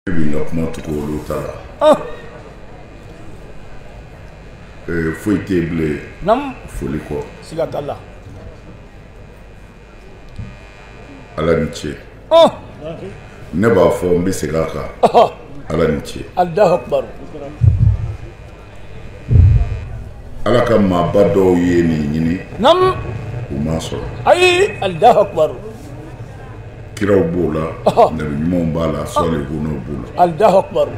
ne bɛ n ka kuma tugu olu ta la ah. eh, foyi tɛ yen bilen namu foli kɔ siga t'a la ala ni ce ah. ne b'a fɔ n bɛ segin a kan ah. ala ni ce ala ka maaba dɔw ye nin ɲini namu u m'a sɔrɔ ayi alahu akibaru kiraw b'o la nabi ɲumanw b'a la sɔlihunaw b'o la alahu akibaru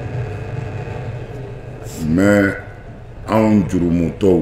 mais anw jurumutɔw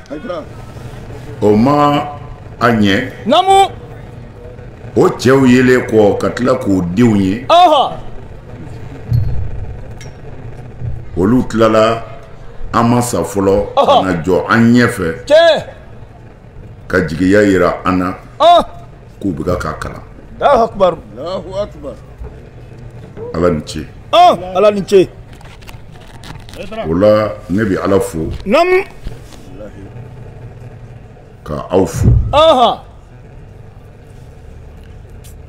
o ma a ɲɛ namu o cɛw yelen kɔ ka tila k'o denw ye olu tilala an ma sa fɔlɔ ka na jɔ an ɲɛ fɛ ka jigiya yira an na k'u bɛ ka k'a kalan Alahu akibaru. ala ni ce Ɔn ala ni ce. o la ne bɛ ala fo Namu. ka aw fo Ɔnhɔn.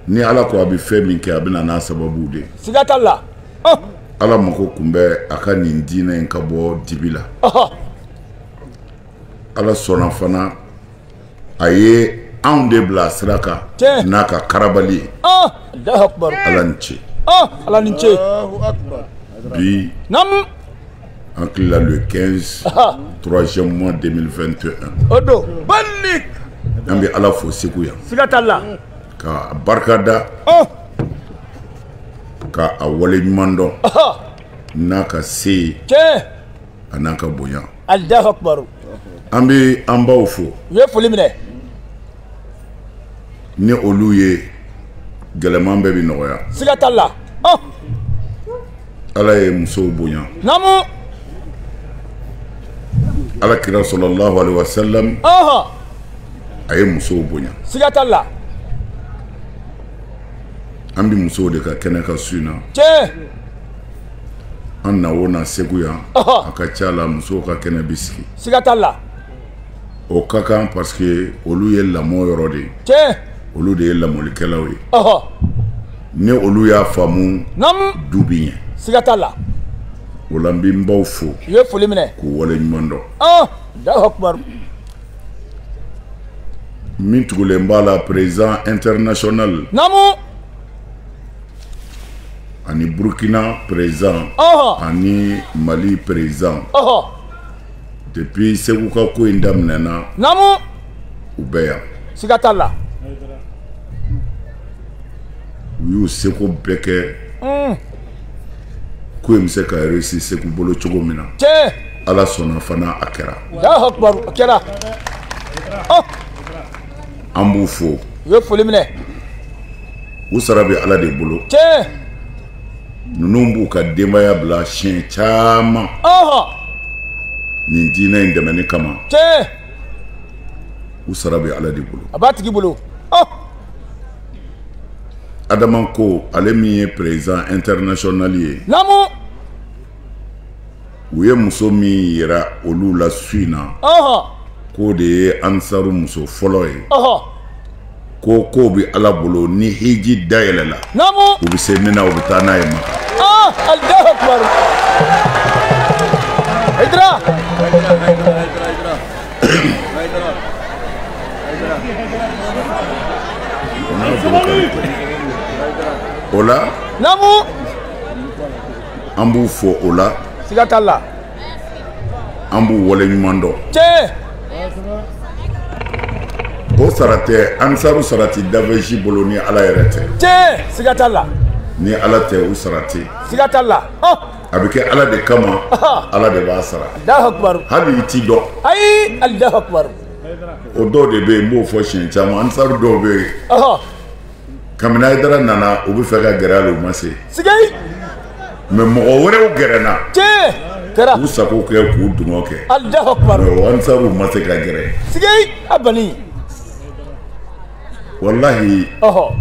ni ala ko a bɛ fɛn min kɛ a bɛ na n'a sababu de ye Siga t'a la. Ɔn. ala mako kun bɛ a ka nin diinɛ in ka bɔ dibi la Ɔhɔn. ala sɔnna fana a ye anw de bila sira kan n'a ka karabali ye alahu akibaru ala ni ce ala ni ce bi namu an tilala le 15 troisième mois 2021 o don balik an bɛ ala fo segu yan siga t'a la ka barika da ka a wale ɲuman dɔn n'a ka se ye a n'a ka bonya alahu akibaru an bɛ an baw fo u ye foli minɛ ni olu ye gɛlɛman bɛɛ bɛ nɔgɔya siga t'a la ɔ ala ye musow bonya namu ala kira sɔlɔlahu alaihi wa salam ɔhɔn a ye musow bonya siga t'a la an bɛ musow de ka kɛnɛ kan su in na tiɲɛ an na o na segu yan a ka ca la musow ka kɛnɛ bɛ sigi siga t'a la o ka kan parce que olu ye lamɔ yɔrɔ de ye tiɲɛ olu de ye lamɔlikɛlaw ye ni olu y'a faamu du bi ɲɛ siga t'a la o la n bɛ n baw fo u ye foli minɛ k'u wale ɲuman dɔn Allahu akbar min tugulen b'a la président international naamu ani burukina président ani mali président depuis segu ka ko in daminɛna namu u bɛ yan siga t'a la u y'u seko bɛɛ kɛ hmm. ko in bɛ se ka réussir segu bolo cogo min na ala sɔnna fana a kɛra a kɛra oh. an b'u fo u ye foli minɛ u sara bɛ ala de bolo tiɲɛ ninnu b'u ka denbaya bila siɲɛ caman nin diinɛ in dɛmɛni kama tiɲɛ u sara bɛ ala de bolo a b'a tigi bolo adama ko ale min ye président international ye namu u ye muso min yira olu la su in na k'o de ye ansaru muso fɔlɔ ye ko k'o bɛ ala bolo ni hiji da yɛlɛla u bɛ se min na u bɛ taa n'a ye maka ah, o la an b'u fo o la siga t'a la an b'u wale ɲuman dɔn tiɲɛ o sara tɛ ansaru sara tɛ danfɛn si bolo ni ala yɛrɛ tɛ tiɲɛ siga t'a la ni ala tɛ u sara tɛ siga t'a la a bɛ kɛ ala de kama ala de b'a sara hali i t'i dɔn ayi o dɔw de bɛ yen n b'o fɔ siɲɛ caman ansaru dɔw bɛ yen kabini ayidara nana u bɛ fɛ ka gɛrɛ a la u ma se sigi mais mɔgɔ wɛrɛw gɛrɛna tiɲɛ kɛra k'u sago kɛ k'u dungɔ kɛ Allahu akbar mais ansaru ma se ka gɛrɛ sigi a bani walahi ɔhɔ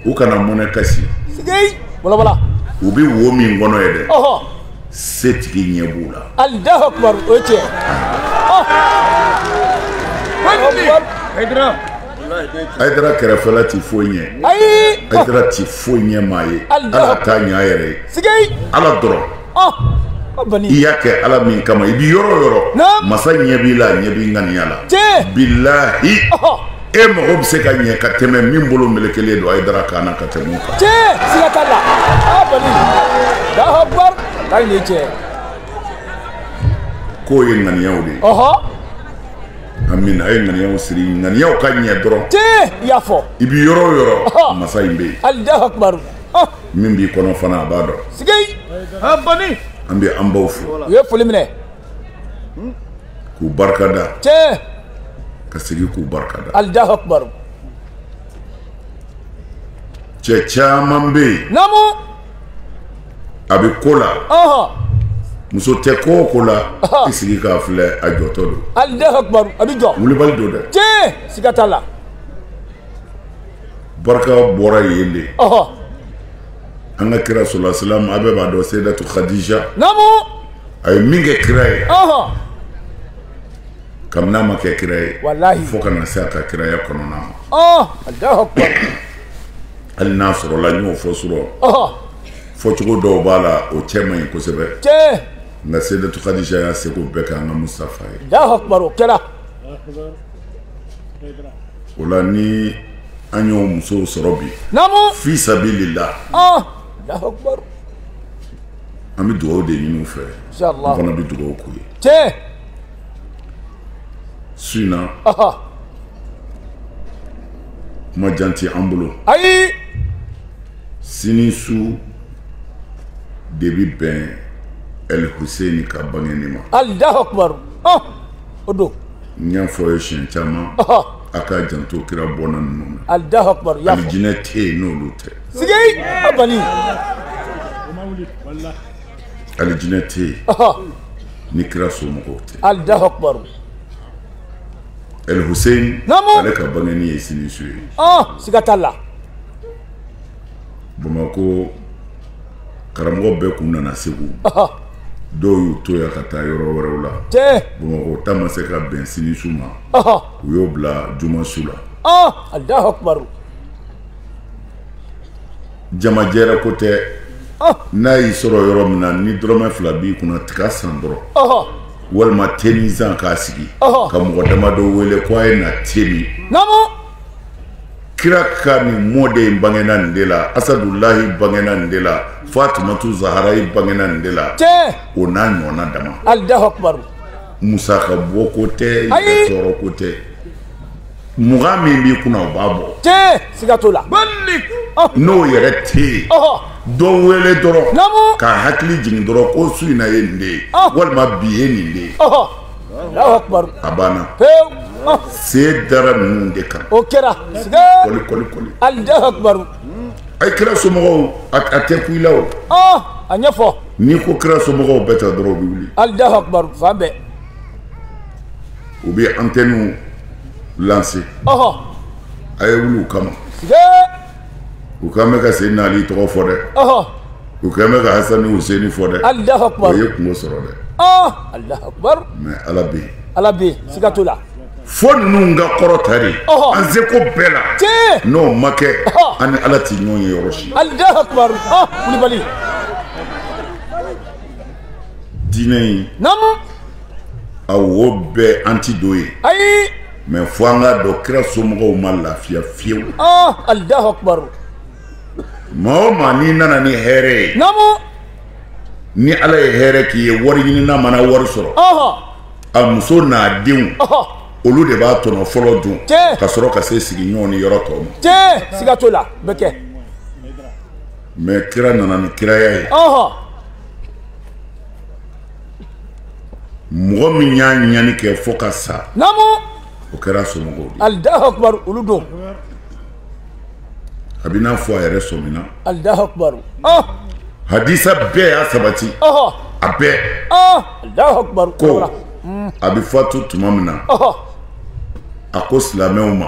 u kana mɔnɛ kasi sigi walawala u bɛ wo min kɔnɔ ye dɛ ɔhɔ setigi ɲɛ b'u la Allahu akbar o ye tiɲɛ ɔhɔ Ayidara ayidara kɛrɛfɛla ti foyi ɲɛ ayi ayidara ti foyi ɲɛ maa ye ale t'a ɲɛ a yɛrɛ ye ala dɔrɔn i y'a kɛ ala min kama i bɛ yɔrɔ o yɔrɔ masa ɲɛ b'i la ɲɛ b'i ŋaniya la bilahi e mago bɛ se ka ɲɛ ka tɛmɛ min bolo melekelen don ayidara kan na ka tɛmɛ o kan siga t'a la a bani Allahu akbar ayi nin ye tiɲɛ ye k'o ye ŋaniyaw de ye amina a ye ŋaniyaw siri ŋaniyaw ka ɲɛ dɔrɔn tiɲɛ i y'a fɔ i bɛ yɔrɔ o yɔrɔ masa in bɛ yen Allahu Akbar min b'i kɔnɔ fana a b'a dɔn sigi a bani an bɛ an baw fo u ye foli minɛ k'u barika da tiɲɛ ka segin k'u barika da Allahu Akbar cɛ caman bɛ yen naamu a bɛ ko la muso tɛ ko o ko la i sigi k'a filɛ a jɔtɔ don Allahu Akbar a bɛ jɔ wulibali don dɛ tiɲɛ siga t'a la barika bɔra yen de an ka kira salalahu salamu a bɛɛ b'a dɔn seyidatu kadija naamu a ye min kɛ kira ye kabini a ma kɛ kira ye fo ka na se a ka kiraya kɔnɔna ma oh, hali n'a sɔrɔla n y'o fɔ surɔ oh. fɔcogo dɔw b'a la o cɛ man ɲi kosɛbɛ nka seyidatu kadija y'a seko bɛɛ kɛ an ka Mustafa ye o la ni an y'o musow sɔrɔ bi fi sabililahi oh. an bɛ dugawu de ɲini u fɛ an fana bɛ dugawu k'u ye su in na kuma jan tɛ an bolo ayi sini su de bɛ bɛn El Hussein ka bangeni ma Allahu Akbar o don n y'a fɔ a ye siɲɛ caman a k'a janto kira bɔnna ninnu na Allahu Akbar y'a fɔ alijinɛ tɛ yen n'olu tɛ sigi a bani alijinɛ tɛ yen ni kira somɔgɔw tɛ Allahu Akbar El Hussein ale ka bangeni ye sini su ye siga t'a la bamakɔ karamɔgɔ bɛɛ kun nana segu dɔw y'u to yan ka taa yɔrɔ wɛrɛw la bamakɔ ta ma se ka bɛn sini su ma u y'o bila juma su la Allahu Akbar jama jɛrɛ ko tɛ n'a y'i sɔrɔ yɔrɔ min na ni dɔrɔmɛ fila b'i kunna tiga san dɔrɔn walima tenin san k'a sigi ka mɔgɔ damadɔ wele ko a ye na te min kira ka nin mɔden in bangena nin de la Asadulahi bangena nin de la Fatumatu Zahara in bangena nin de la o n'a ɲɔgɔn dama musaka bɔ ko tɛ tɔɔrɔ ko tɛ mugan min b'i kunna o b'a bɔ tiɲɛ siga t'o la n'o yɛrɛ tɛ yen oh. dɔ wele dɔrɔn k'a hakili jigin dɔrɔn ko su in na ye nin de ye oh. walima bi ye nin de ye a banna se dara ninnu de kan o kɛra siga kɔli Allahu Akbar a ye kira somɔgɔw a tɛ ku i la o a ɲɛfɔ n'i ko kira somɔgɔw bɛɛ ta dɔrɔn u bɛ wuli Allahu Akbar fan bɛɛ u bɛ antɛniw lanse a ye wuli u kama u k'an bɛ ka seyidina ali tɔgɔ fɔ dɛ u k'an bɛ ka hasani huseni fɔ dɛ o ye kunko sɔrɔ dɛ mɛ ala bɛ yen ala bɛ yen siga t'o la fo ninnu ka kɔrɔta de an seko bɛɛ la n'o ma kɛ an ni ala tɛ ɲɔgɔn ye yɔrɔ si wulibali diinɛ in a wo bɛɛ an ti don ye ayi mɛ fo an k'a dɔn kira somɔgɔw ma lafiya fiyewu alahu akubaru maa o maa n'i nana ni hɛrɛ ye namu ni ala ye hɛrɛ k'i ye wari ɲinina mana wari sɔrɔ a muso n'a denw olu de b'a tɔnɔ fɔlɔ dun ka sɔrɔ ka se sigiɲɔgɔn ni yɔrɔ tɔw ma siga t'o la bɛ kɛ mɛ kira nana ni kiraya ye mɔgɔ min y'a ɲani kɛ fo ka sa o kɛra a somɔgɔw de alahu akubaru olu don a b'i n'a fɔ a yɛrɛ sɔmina alahu akubaru ah! hadisa bɛɛ y'a sabati a bɛɛ ah! alahu akubaru ko a bɛ fatu tuma min na a ko silamɛw ma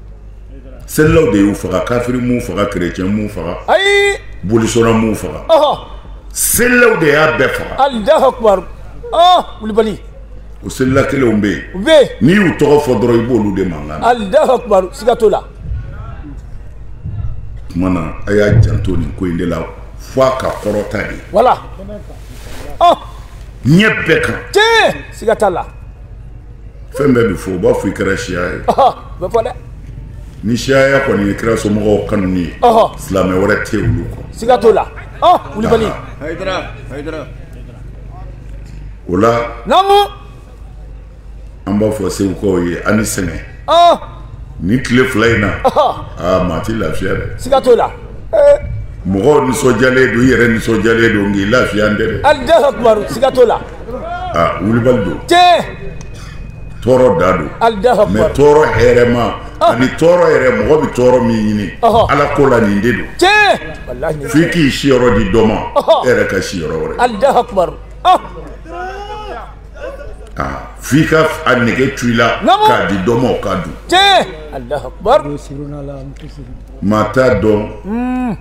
selilaw de y'u faga kafiri m'u faga kerecɛn m'u faga ayi bolisɔnna m'u faga selilaw de y'a bɛɛ faga alahu akubar wulibali o selila kelenw bɛ yen u bɛ yen n'i y'u tɔgɔ fɔ dɔrɔn i b'olu de mankan na alahu akubar siga t'o la tuma na a y'a janto nin ko in de la fo a ka kɔrɔta de wala ɲɛ bɛɛ kan tiɲɛ siga t'a la fɛn bɛɛ bɛ fɔ u b'a fɔ i kɛra siya ye bɛ fɔ dɛ ni siyaya kɔni ye kira somɔgɔw kanuni ye silamɛ wɛrɛ tɛ olu kɔ siga t'o la wulibali o la naamu an b'a fɔ segukaw ye a ni sɛgɛn nin tile fila in na aa maa ti lafiya dɛ siga t'o la mɔgɔw nisɔndiyalen don i yɛrɛ nisɔndiyalen don nk'i lafiyalen tɛ dɛ siga t'o la wulibali don tɔɔrɔ da don mɛ tɔɔrɔ hɛrɛma ani tɔɔrɔ yɛrɛ mɔgɔ bɛ tɔɔrɔ min ɲini ala ko la nin de don f'i k'i siyɔrɔ di dɔ ma e yɛrɛ ka si yɔrɔ wɛrɛ f'i ka a nege to i la k'a di dɔ ma o k'a dun maa t'a dɔn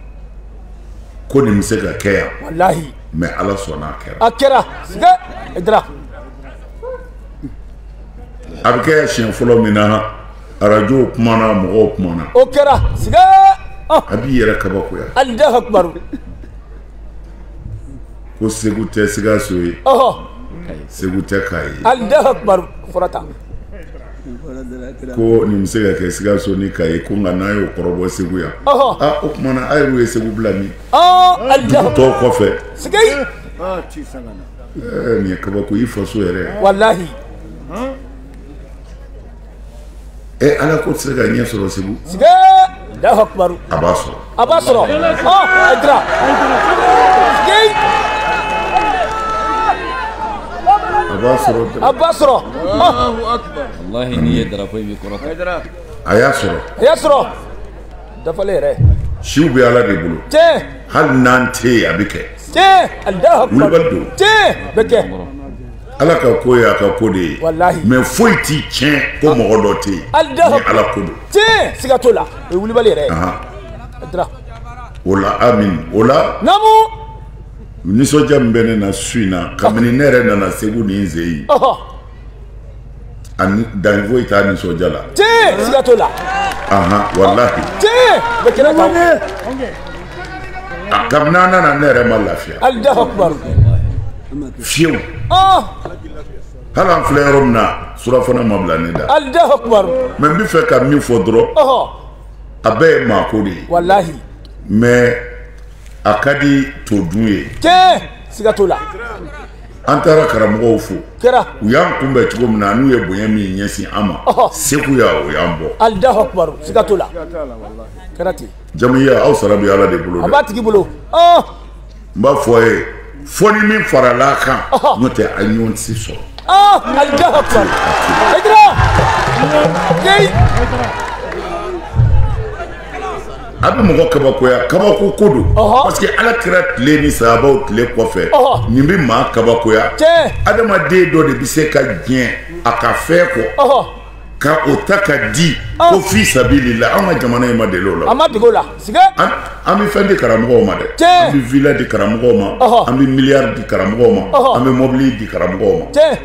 ko nin bɛ se ka kɛ yan walahi mais ala sɔnna a kɛra a kɛra siga ayidara a bɛ kɛ siɲɛ fɔlɔ min na arajow kumana mɔgɔw kumana o kɛra siga ah. a b'i yɛrɛ kabakoya alahu akubaru ko segu tɛ sikaso ye segu tɛ kayi ye alahu akubaru fɔra tan ko nin bɛ se ka kɛ sikaso ni kayi ko nka n'a y'o kɔrɔbɔ segu yan o kumana a yɛrɛw ye segu bila nin tɔw kɔfɛ nin ye kabako i faso yɛrɛ walahi ɛ ala ko tɛ se ka ɲɛ sɔrɔ segu a b'a sɔrɔ a b'a sɔrɔ ɔ ayidara siga a b'a sɔrɔ a b'a sɔrɔ ɔ walahi n'i ye darapo in bɛ kɔrɔta a y'a sɔrɔ a y'a sɔrɔ dafalen yɛrɛ siw bɛ ala de bolo tiɲɛ hali n'an tɛ yen a bɛ kɛ tiɲɛ alahu akbar Wulibali don. tiɲɛ bɛ kɛ ala ka ko ye a ka ko de ye Walahi. mais foyi tɛ tiɲɛ ko mɔgɔ dɔ tɛ yen Alahu ni ala ko don tiɲɛ siga t'o la o ye wulibali yɛrɛ ye ayidara o la amin o la namu nisɔndiya min bɛ ne na su in na kabini ne yɛrɛ nana segu ni n sen yen ani dan foyi t'a nisɔndiya la tiɲɛ siga t'o la ahan walahi tiɲɛ bɛ kɛnɛ kan kabini an nana ne yɛrɛ ma lafiya alahu akubaru fiyewu Hali an filɛ yɔrɔ min na surafana ma bila ne da. Alahu akubaru. Mais n bɛ fɛ ka min fɔ dɔrɔn. Ɔhɔ. A bɛɛ ye maako de ye. Walahi. Mais a ka di to dun ye. Tiɲɛ siga t'o la. An taara karamɔgɔw fo. Kɛra. U y'an kunbɛn cogo min na n'u ye bonya min ɲɛsin an ma. Ɔhɔ. Seguya o y'an bɔ. Alahu akubaru siga t'o la. Kɛra ten. Jamuyiya aw sara bɛ Ala de bolo dɛ. A b'a tigi bolo. Ɔɔ. n b'a fɔ a ye fo ni min farala a kan n'o tɛ a ɲɔgɔn tɛ se sɔrɔ. aa alahu akubar ayidara yeyi. a bɛ mɔgɔ kabakoya kabako ko don parce que ala kira tile ni sahabaw tile kɔfɛ nin bɛ maa kabakoya adamaden dɔ de bɛ se ka diɲɛ a ka fɛn kɔ. ka o ta ka di oh. ko fi sabilillah an ka jamana in ma deli o la an ma dege o la siga an bɛ fɛn di karamɔgɔw ma dɛ an bɛ villa di karamɔgɔw ma an bɛ miliyari di karamɔgɔw ma an bɛ mɔbili di karamɔgɔw ma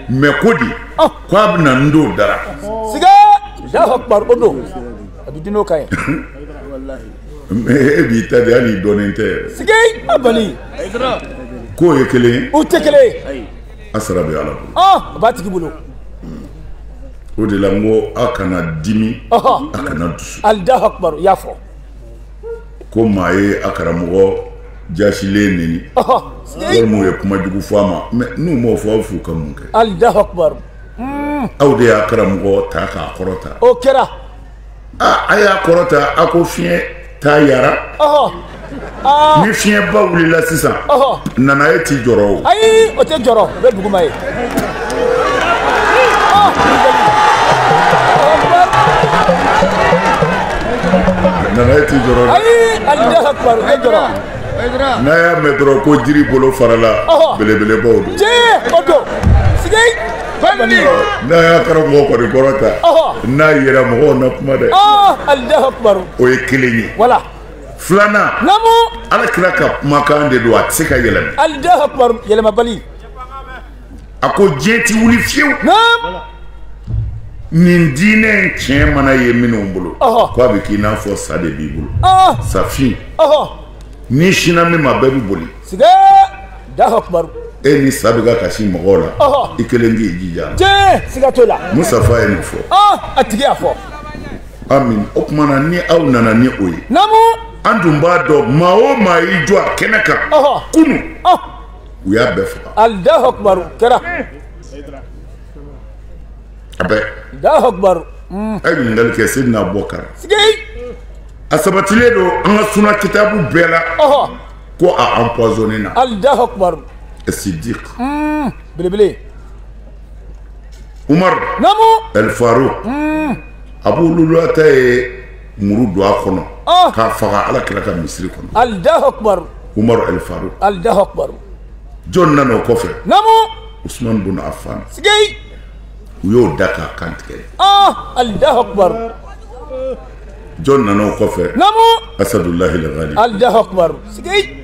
mais ko di oh. ko a bɛna n don dara siga alahu akubar o don a bɛ di n'o kan ye e b'i ta di hali dɔnnen tɛ siga a bali k'o ye kelen ye o tɛ kelen ye A sara bɛ ala bolo a b'a tigi bolo o de la n ko a kana dimi a kana dusu alahu akubaru i y'a fɔ ko maa ye a karamɔgɔ jasilen neni walima ye kuma jugu fɔ a ma mɛ n'u m'o fɔ aw f'u ka mun kɛ alahu akubaru aw de y'a karamɔgɔ ta k'a kɔrɔta o kɛra aa a y'a kɔrɔta a ko fiɲɛ t'a yara ni fiɲɛba wulila sisan nanaye t'i jɔrɔ o ayi o tɛ jɔrɔ o bɛ duguma yen nanaye t'i jɔrɔ ayi alahu akubaru o tɛ jɔrɔ n'a y'a mɛn dɔrɔn ko jiri bolo farala belebelebaw don tiɲɛ o don sigi n'a y'a karamɔgɔ kɔni kɔrɔta n'a yɛrɛ mɔgɔw na kuma dɛ o ye kelen ye filanan ala kira ka kumakan de don a tɛ se ka yɛlɛma a ko diɲɛ ti wuli fiyewu nin diinɛ in tiɲɛ mana ye minnu bolo ko a bɛ k'i n'a fɔ sa de b'i bolo safin n'i sinna min ma bɛɛ bɛ boli sigi alahu akubaru e ni sa bɛ ka kasi mɔgɔw la i kelen k'i jija tiɲɛ siga t'o la musafa ye nin fɔ a tigi y'a fɔ amin o tuma na ni aw nana ni o ye namu an dun b'a dɔn maa o maa y'i jɔ a kɛnɛ kan kunun u y'a bɛɛ faga alahu akubaru kɛra a bɛɛ alahu akubaru mm. a ye ɲininkali kɛ seyidina abubakari a sabatilen don an ka suna kitabu bɛɛ la ko an pɔonen na ali daha sidi belebele umaru alifaru a bɛ oluta ye muru don a kɔnɔ k'a faga ala kira ka misisiriri kɔnɔ ali umaru alifaru ali jɔn nana o kɔfɛ u suma don a fa u y'o da k'a kantigɛ ali jɔn nana o kɔfɛ namu asadulahi aligali alahu akubaru sigi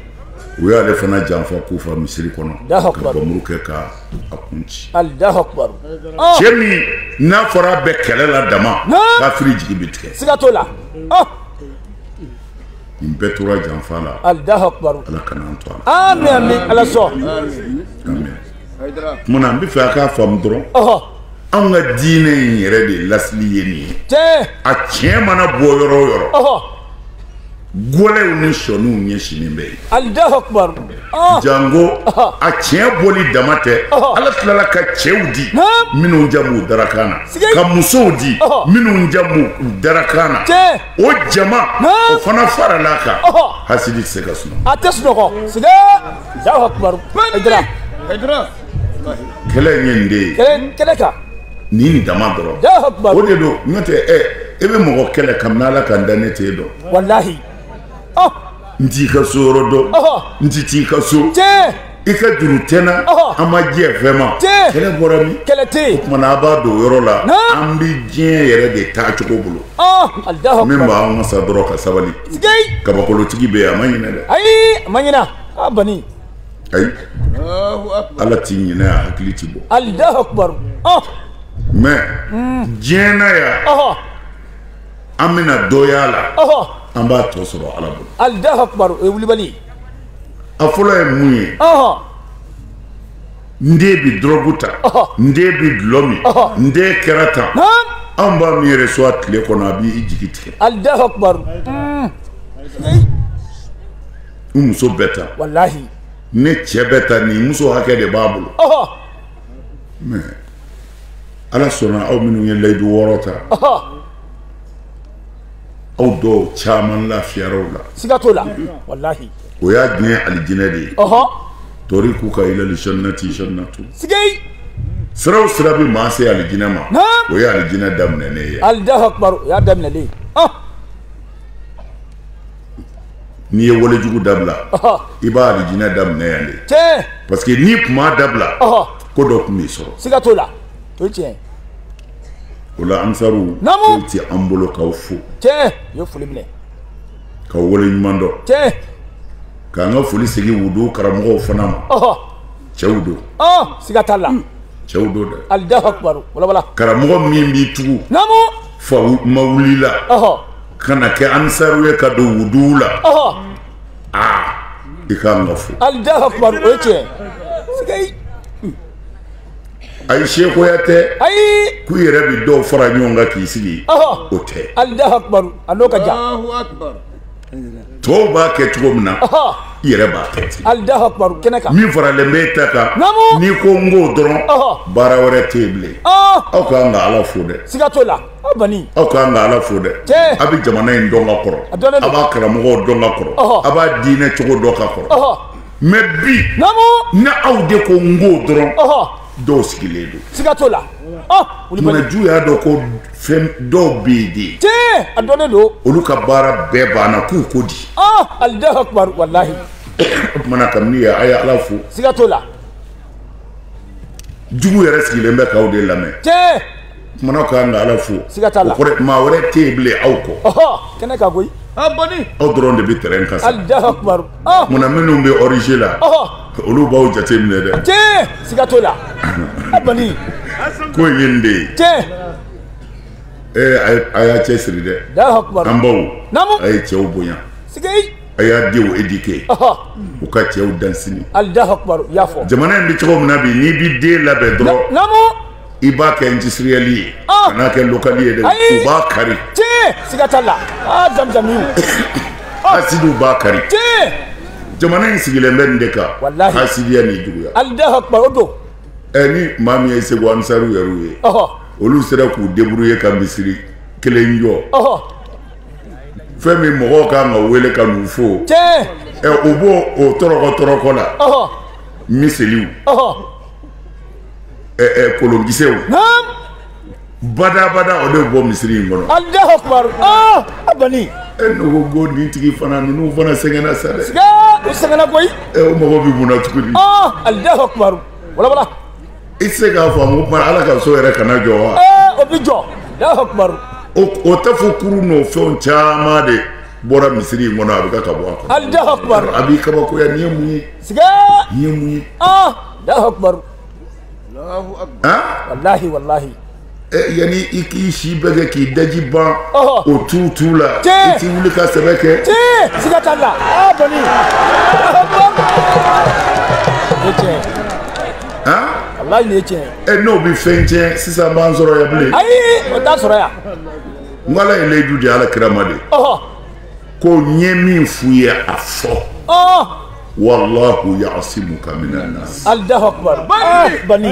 u y'ale fana janfa kufa misiri kɔnɔ ka bamuru kɛ ka a kun ci cɛ min n'a fɔra bɛ kɛlɛ la dama kafiri jigi bɛ tigɛ siga t'o la nin bɛɛ tora janfa la ala kana an to a la amin amin ala sɔn amin tuma na n b'a fɛ a k'a faamu dɔrɔn anw ka diinɛ in yɛrɛ de lasili ye nin ye a tiɲɛ mana bɔ yɔrɔ o yɔrɔ gɛlɛw ni sɔniw ɲɛsinnen bɛ yen janko a tiɲɛ bɔli dama tɛ ala tilala ka cɛw di minnu ja b'u darakan na ka musow di minnu ja b'u darakan na o jama o fana farala a kan hasidi tɛ se ka sunɔgɔ a tɛ sunɔgɔ kɛlɛ ye nin de ye ni nin dama dɔrɔn o de don n'o tɛ ɛ e bɛ mɔgɔ kɛlɛ kabini Ala ka n dan ne t'e dɔn walahi n t'i ka so yɔrɔ dɔn n tɛ t'i ka so i ka juru tɛ n na an ma jɛ fɛn ma kɛlɛ bɔra min o tumana a b'a dɔn o yɔrɔ la an bɛ diɲɛ yɛrɛ de taa cogo bolo min b'an wasa dɔrɔn ka sabali kabakolotigi bɛ yen a ma ɲinɛ dɛ ayi a ma ɲinɛ a bani ayi ala ti ɲinɛ a hakili ti bɔ alahu akubaru mais diɲɛ na yan an bɛna dɔ y'a la an b'a tɔ sɔrɔ ala bolo alahu akubaru o ye wulibali ye a fɔlɔ ye mun ye n den bɛ dɔrɔgu ta n den bɛ dulɔ min n den kɛra tan an b'a min yɛrɛ su ni tile kɔnɔ a b'i jigi tigɛ alahu akubaru mm. n muso bɛ tan walahi ne cɛ bɛ tan nin muso hakɛ de b'a bolo mais ala sɔnna aw minnu ye layidu wɔɔrɔ ta aw dɔw caman lafiyara o la siga t'o la walahi o y'a diɲɛ alijinɛ de ye ɔhɔ torikuka ilali jannati jannatu sigi sira o sira bɛ maa se alijinɛ ma o ye alijinɛ daminɛnen ye alahu akubar o y'a daminɛnen ye ah! n'i ye walejugu dabila i b'a alijinɛ daminɛ yan de tiɲɛ parce que n'i kun m'a dabila ko dɔ tun b'i sɔrɔ siga t'o la o ye tiɲɛ ye o la ansaru foyi tɛ an bolo k'aw fo tiɲɛ u ye foli minɛ k'aw wale ɲuman dɔn tiɲɛ k'an ka foli segin wudu karamɔgɔw fana ma cɛw don siga t'a la cɛw don dɛ alahu akubaru walawala karamɔgɔ min b'i tugu namu fa ma wulila ka na kɛ ansaru ye ka don wuduw la aa i k'an ka fo alahu akubaru o ye tiɲɛ siga ayi sekoya tɛ ayi k'u yɛrɛ bɛ dɔw fara ɲɔgɔn kan k'i sigi o tɛ alahu akubaru a n'o ka jan tɔw b'a kɛ cogo min na i yɛrɛ b'a kɛ ten alahu akubaru kɛnɛ kan min faralen bɛ e ta kan n'i ko n k'o dɔrɔn baara wɛrɛ tɛ yen bilen aw ka kan ka ala fo dɛ siga t'o la aw bani aw ka kan ka ala fo dɛ a bɛ jamana in dɔn ka kɔrɔ a b'a karamɔgɔw dɔn ka kɔrɔ a b'a diinɛ cogo dɔn ka kɔrɔ mais bi ni aw de ko n k'o dɔrɔn dɔw sigilen don siga t'o la tuma jugu y'a dɔn ko fɛn dɔw bɛ yen de tiɲɛ a dɔnnen don olu ka baara bɛɛ banna k'u ko di alahu akubar walahi o tumana kabini ye a ye ala fo siga t'o la jugu yɛrɛ sigilen bɛ k'aw de lamɛn tiɲɛ Kumana k'an ka ala fo siga t'a la maa wɛrɛ tɛ yen bilen aw kɔ kɛnɛ kan koyi aw dɔrɔn de bɛ terrain kan munna minnu bɛ origine la olu b'aw jate minɛ dɛ tiɲɛ siga t'o la ko in ye nin de ye tiɲɛ a y'a cɛ siri dɛ an baw a ye cɛw bonya a y'a denw éduquer u ka cɛw dan sini jamana in bɛ cogo min na bi n'i bɛ den labɛn dɔrɔn i b'a kɛ industriel ye ah! kan'a kɛ local ye dɛ u b'a kari siga t'a la ah, jamujamiw ah! hasidiw b'a kari jamana in sigilen bɛ nin de kan hasidiya ni juguya alahu akbar o don eh, ni maa min ye segu ansaru yɛrɛw ye olu sera k'u débrouiller ka misiri kelen jɔ fɛn min mɔgɔw kan ka wele ka n'u fo eh, u b'o o tɔrɔkɔ tɔrɔkɔ la miseliw eh, eh, kolonkisɛw badabada o de bɔ misiri in kɔnɔ alahu akubaru ah, a bani e n'o ko nin tigi fana ninnu fana sɛgɛnna sa dɛ u sɛgɛnna koyi eh, o mago bɛ mun na tuguni ah, alahu akubaru walawala i tɛ se k'a faamu kuma ala ka so yɛrɛ kana jɔ wa o bɛ jɔ alahu akubaru o tafo kuru n'o fɛnw caman de bɔra misiri in kɔnɔ a bɛ ka ka bɔ a kɔnɔ alahu akubaru a b'i kabakoya nin ye mun ye siga nin ye mun ye ah. Allahu akbar Allahu akbar wallahi wallahi eh, yani i k'i si bɛɛ kɛ k'i daji ban o tu tu la i t'i wuli ka sɛbɛ kɛ siga t'a la a bani o tiɲɛ walayi nin ye tiɲɛ ye e n'o bɛ fɛn tiɲɛ sisan b'an sɔrɔ yan bilen ayi o t'a sɔrɔ yan n ko ala ye layidu di ala kira ma de ko n ye min f'u ye a fɔ walahu yasimuka minan nas alahu akbar ah, bani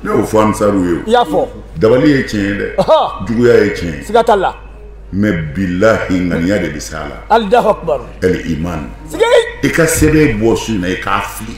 ne y'o fɔ ansaru ye i y'a fɔ dabali ye tiɲɛ ye dɛ juguya ye tiɲɛ ye siga t'a la mɛ bilahi ŋaniya de bɛ s'a la alahu akbar ɛli iman i ka sɛbɛn bɔ su in na i k'a fili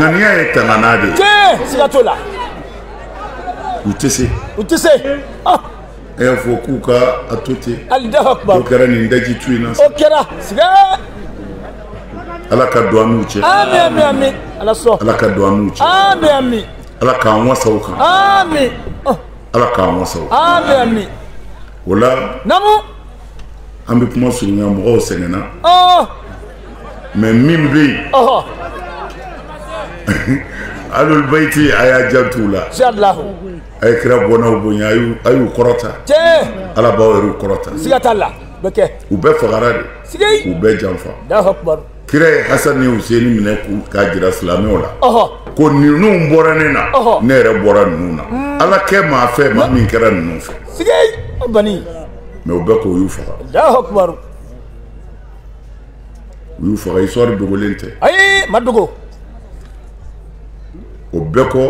ŋaniya ye tangana de ye siga t'o la u tɛ se u tɛ se a y'a fɔ k'u ka a to ten alahu akubar o kɛra nin daji tu in na o kɛra siga ala ka don an n'u cɛ ami ami ami ala sɔn ala ka don an n'u cɛ ami ami ala k'an wasa o kan ami ala k'an wasa o ami ami o la naamu an bɛ kuma surunya mɔgɔw sɛgɛnna mais min bɛ yen alul bayiti a y'a jant'u la a ye kira bɔnnaw bonya a y'u kɔrɔta ala b'aw yɛrɛw kɔrɔta siga t'a la bɛ kɛ u bɛɛ fagara de u bɛɛ janfa kira ye Hasani ni Huseni minɛ k'a jira silamɛw la ko ninnu bɔra ne na ne yɛrɛ bɔra ninnu na hmm. ala kɛ maa fɛ maa min kɛra ninnu fɛ mais o bɛɛ kɔ u y'u faga u y'u faga histoire dogolen tɛ ayi a ma dogo o bɛɛ kɔ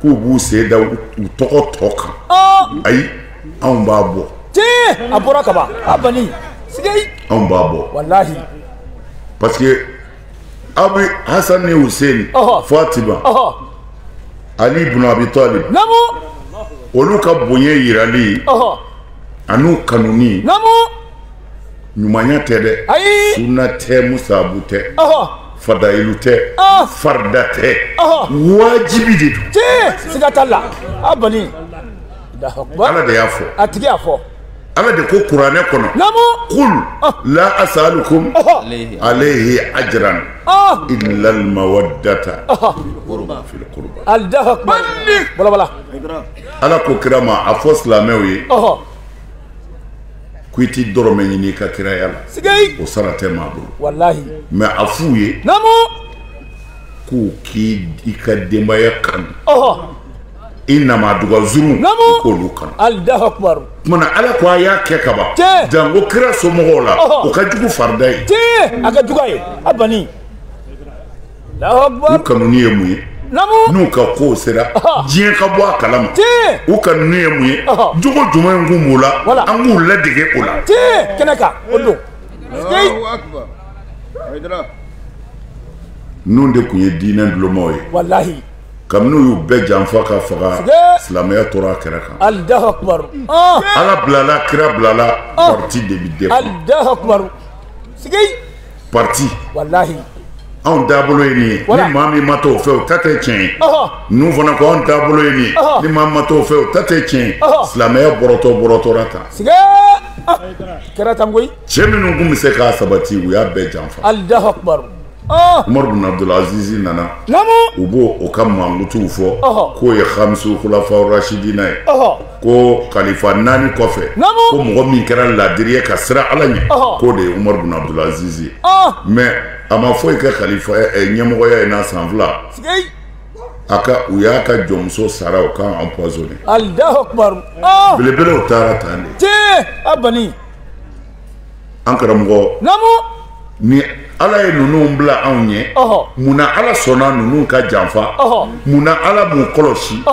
k'u b'u sen da u tɔgɔ tɔ kan ayi anw b'a bɔ tiɲɛ a bɔra kaban a bani sigi anw b'a bɔ walahi parce que aw bɛ Hasani ni Huseni Fatima Ali ibn Abi Talib olu ka bonya jirali an'u kanuni ɲumanya tɛ dɛ suna tɛ musabu tɛ fadayilu tɛ farida tɛ wajibi de don la ala de y'a fɔ a tigi y'a fɔ ala de ko kuranɛ kɔnɔ qul ah. la asalukum alayhi ajran ah. illa al mawaddata fil qurba allahu akbar bala bala ala ko kira ma a fɔ silamɛw ye ko i ti dɔrɔmɛ ɲini i ka kiraya la o sara tɛ maa bolo walahi mais a f'u ye k'u k'i ka denbaya kanu i namadugauru k'olu kanu tuma ala ko a y'a kɛ kaban janko kira somɔgɔw la o ka jugu farida ye a ka jugu ye a bani u kanu ye mun ye n'u ka ko sera diɲɛ ka bɔ a kalama u kanu ye mun ye jogo ɲuman min kun b'u la an k'u ladege o la kɛnɛ kan o don ninnu de kun ye diinɛ ntulomaw ye walahi kabini u y'u bɛɛ janfa ka faga silamɛya tora a kɛrɛ kan ala bilala kira bilala pati de bɛ de pati anw taabolo ye nin ye ni maa min ma t'o fɛ o ta tɛ tiɲɛ ye ninnu fana ko anw taabolo ye nin ye ni maa ma t'o fɛ o ta tɛ tiɲɛ ye silamɛya bɔrɔtɔ bɔrɔtɔra tan kɛra tan koyi cɛ minnu kun bɛ se k'a sabati u y'a bɛɛ janfa Umaru bin Abdul Aziz nana u b'o ka mankutuw fɔ k'o ye khamisu khulafa rashidina ye ko kalifa naani kɔfɛ ko mɔgɔ min kɛra laadiri ye ka siran ala ɲɛ k'o de ye Umaru bin Abdul Aziz ye mais a ma foyi kɛ kalifa ɲɛmɔgɔya in na san fila a ka u y'a ka jɔnmuso sara o k'a empoisonner belebelew taara tan de an karamɔgɔ namu ni ala ye ninnu bila anw ɲɛ mun na ala sɔnna ninnu ka janfa mun na ala m'u kɔlɔsi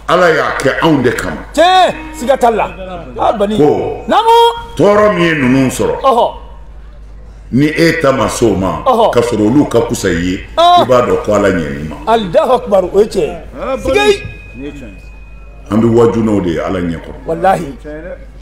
ala y'a kɛ anw de kama tiɲɛ siga t'a la ko namu tɔɔrɔ min ye ninnu sɔrɔ ni e ta ma s'o ma ka sɔrɔ olu ka kusa i ye i b'a dɔn ko ala ɲɛn'i ma alahu akubar o ye tiɲɛ ye siga an bɛ wajunaw de ye ala ɲɛ kɔrɔ walahi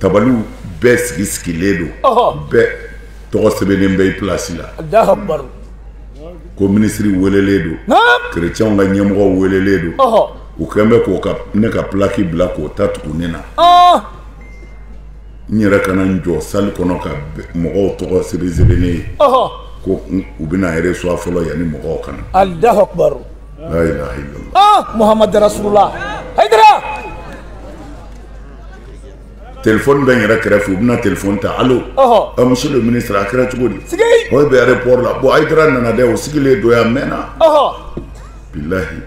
tabaliw bɛɛ sigi sigilen don ɔhɔ bɛɛ tɔgɔ sɛbɛnnen bɛ i pilasi la alahu akubaru ko minisiri welelen don naam kerecɛnw ka ɲɛmɔgɔ welelen don ɔhɔ u kɛlen bɛ k'o ka ne ka pilaki bila k'o ta tugu ne na ɔɔ n yɛrɛ ka na n jɔ sali kɔnɔ ka bɛ- mɔgɔw tɔgɔ sɛbɛn sɛbɛnnen ye ɔhɔ ko n- u bɛna e resuwa fɔlɔ yanni mɔgɔw ka na alahu akubaru la ilaha illallah ɔɔ muhamadu rasulula hayidara telefɔni bɛ n yɛrɛ kɛrɛfɛ u bɛna telefɔni ta alo misiye le minisiri a kɛra cogo di o bɛ ayeropɔri la bɔn ayidara nana dɛ o sigilen don yan a mɛnna bilayi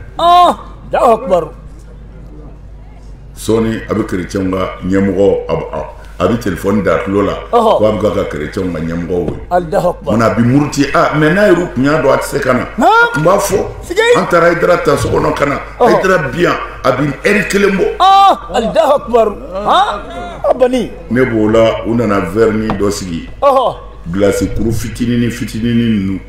sɔɔni a bɛ kerecɛnw ka ɲɛmɔgɔ a bɛ telefɔni da tulo la k' a bɛ ka kerecɛnw ka ɲɛmɔgɔ wele a bɛ muruti mɛ n'a yɛrɛ kun y'a dɔn a tɛ se ka na a tun b'a fɔ an taara ayidara ta so kɔnɔ ka na ayidara bi yan a bi ɛri kelen bɔ alahu akubaru a bani ne b'o la u nana vɛrini dɔ sigi gilasi kuru fitinini fitinini ninnu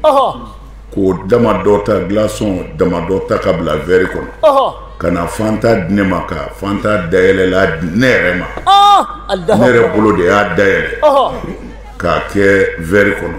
k'o dama dɔ ta gilasɔn dama dɔ ta ka bila vɛri kɔnɔ ka na fanta di ne ma ka fanta dayɛlɛlan di ne yɛrɛ ma ne yɛrɛ bolo de y'a dayɛlɛ k'a kɛ vɛri kɔnɔ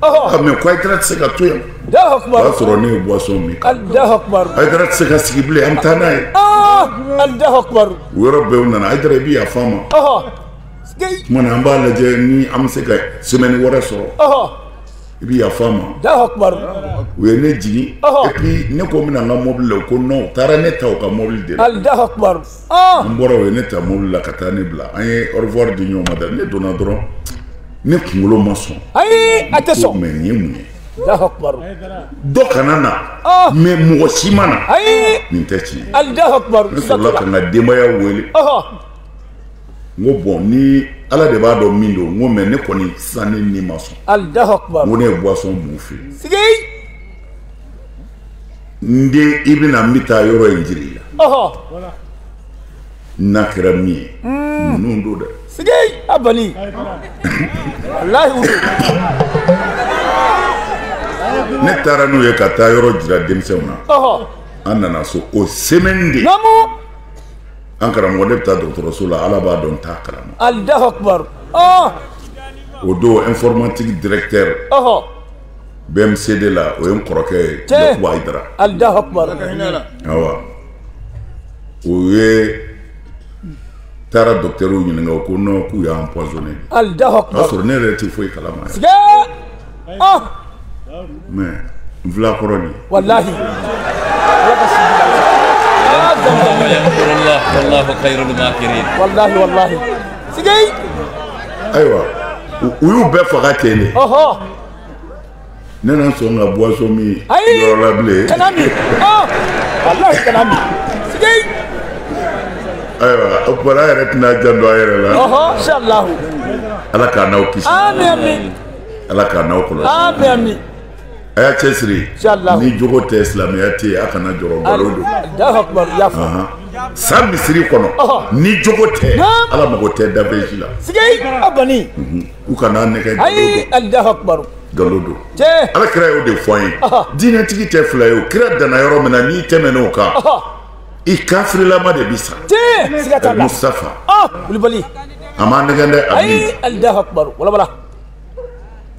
mɛ ko ayidara tɛ se ka to yan o y'a sɔrɔ ne ye buwasɔn min ayidara tɛ se ka sigi bilen an bɛ taa n'a ye o yɔrɔ bɛɛ u nana ayidara i bɛ yafa an ma tuma na an b'a lajɛ ni an bɛ se ka semɛni wɛrɛ sɔrɔ i bɛ yafa an ma u ye ne jigin epi ne ko n bɛna n ka mɔbili la u ko nɔn u taara ne ta u ka mɔbili de la n bɔra o ye ne ta mobili la ka taa ne bila an ye ɔrevuwari di ɲɔgɔn ma da ne donna dɔrɔn ne kunkolo ma sɔn ayi a tɛ sɔn mɛ nin ye mun ye dɔ kana na mɛ mɔgɔ si ma na nin tɛ tiɲɛ ne sɔrɔla ka n ka denbaya wele n ko bɔn ni ala de b'a dɔn min don n ko mɛ ne kɔni sisan ne ni ma sɔn n ko ne ye buwasɔn min u fɛ n den i bɛ na n bɛ taa yɔrɔ in jir'i la n'a kɛra min ye hmm. ninnu don dɛ sigi a bali walayi ne taara n'u ye ka taa yɔrɔ jira denmisɛnw na an nana so o semaine de an karamɔgɔ ne bɛ taa dɔgɔtɔrɔso la ala b'a dɔn n t'a kalama alahu akubaru o don informatique directeur BMCD la o ye n kɔrɔkɛ ye yakuba ayidara awa o ye taara docteurw ɲininka o ko non k'u y'a empoisonné alahu akubaru o y'a sɔrɔ ne yɛrɛ tɛ foyi kalama mais n fila kɔrɔ nin walahi walahi walahi ayiwa u y'u bɛɛ faga ten de ne na sɔn ka boisson min yɔrɔ la bilen kana min walayi kana min sigi ayiwa o tuma na an yɛrɛ t'an janto an yɛrɛ la ala k'an n'aw kisi ala k'an n'aw kɔlɔsi A y'a cɛsiri ni jogo tɛ silamɛya tɛ yen a kana jɔrɔ san misiri kɔnɔ ni jogo tɛ ala mako tɛ daji la u kana an nɛgɛn galon don ala kira y'o de fɔ an ye diinɛtigi tɛ fila ye o kira danna yɔrɔ min na n'i tɛmɛn'o kan i kafirilama de bɛ sa mustafa kulubali a ma nɛgɛn dɛ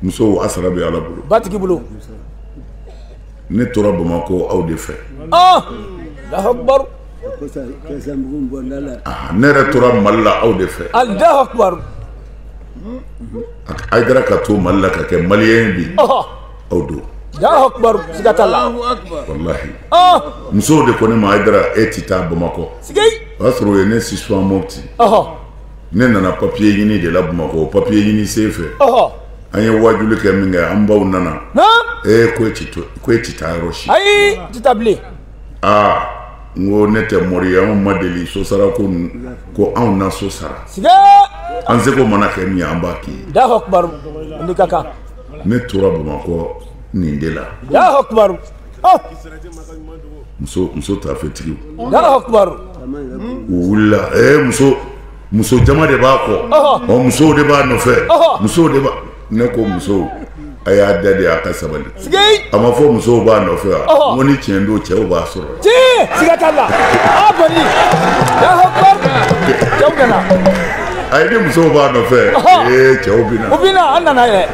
musow a sara bɛ ala bolo batigi bolo ne tora bamakɔ aw de fɛ ah! ah, ne yɛrɛ tora mali la aw de fɛ ayidara ka to mali la ka kɛ maliyɛn ye bi aw don musow de ko ne ma ayidara e tɛ taa bamakɔ o y'a sɔrɔ o ye ne si mopti ne nana papiye ɲini de la bamakɔ papiye ɲini sen fɛ an ye wajuli kɛ min kɛ an baw nana ee ko e tɛ taa yɔrɔ si ayi i tɛ taa bilen aa n ko ne tɛ mori ye anw ma deli so sara ko ko anw na so sara an seko mana kɛ min ye an b'a k'i ye alahu akubaru nin ka kan ne tora bamakɔ nin de la alahu akubaru muso taafetigiw wulila muso muso jama de b'a kɔ ɔ musow de b'a nɔfɛ musow de ne ko musow a y'a da de a ka sabali a ma fɔ musow b'a nɔfɛ wa n ko ni tiɲɛ don cɛw b'a sɔrɔ a ye ni musow b'a nɔfɛ cɛw bɛ na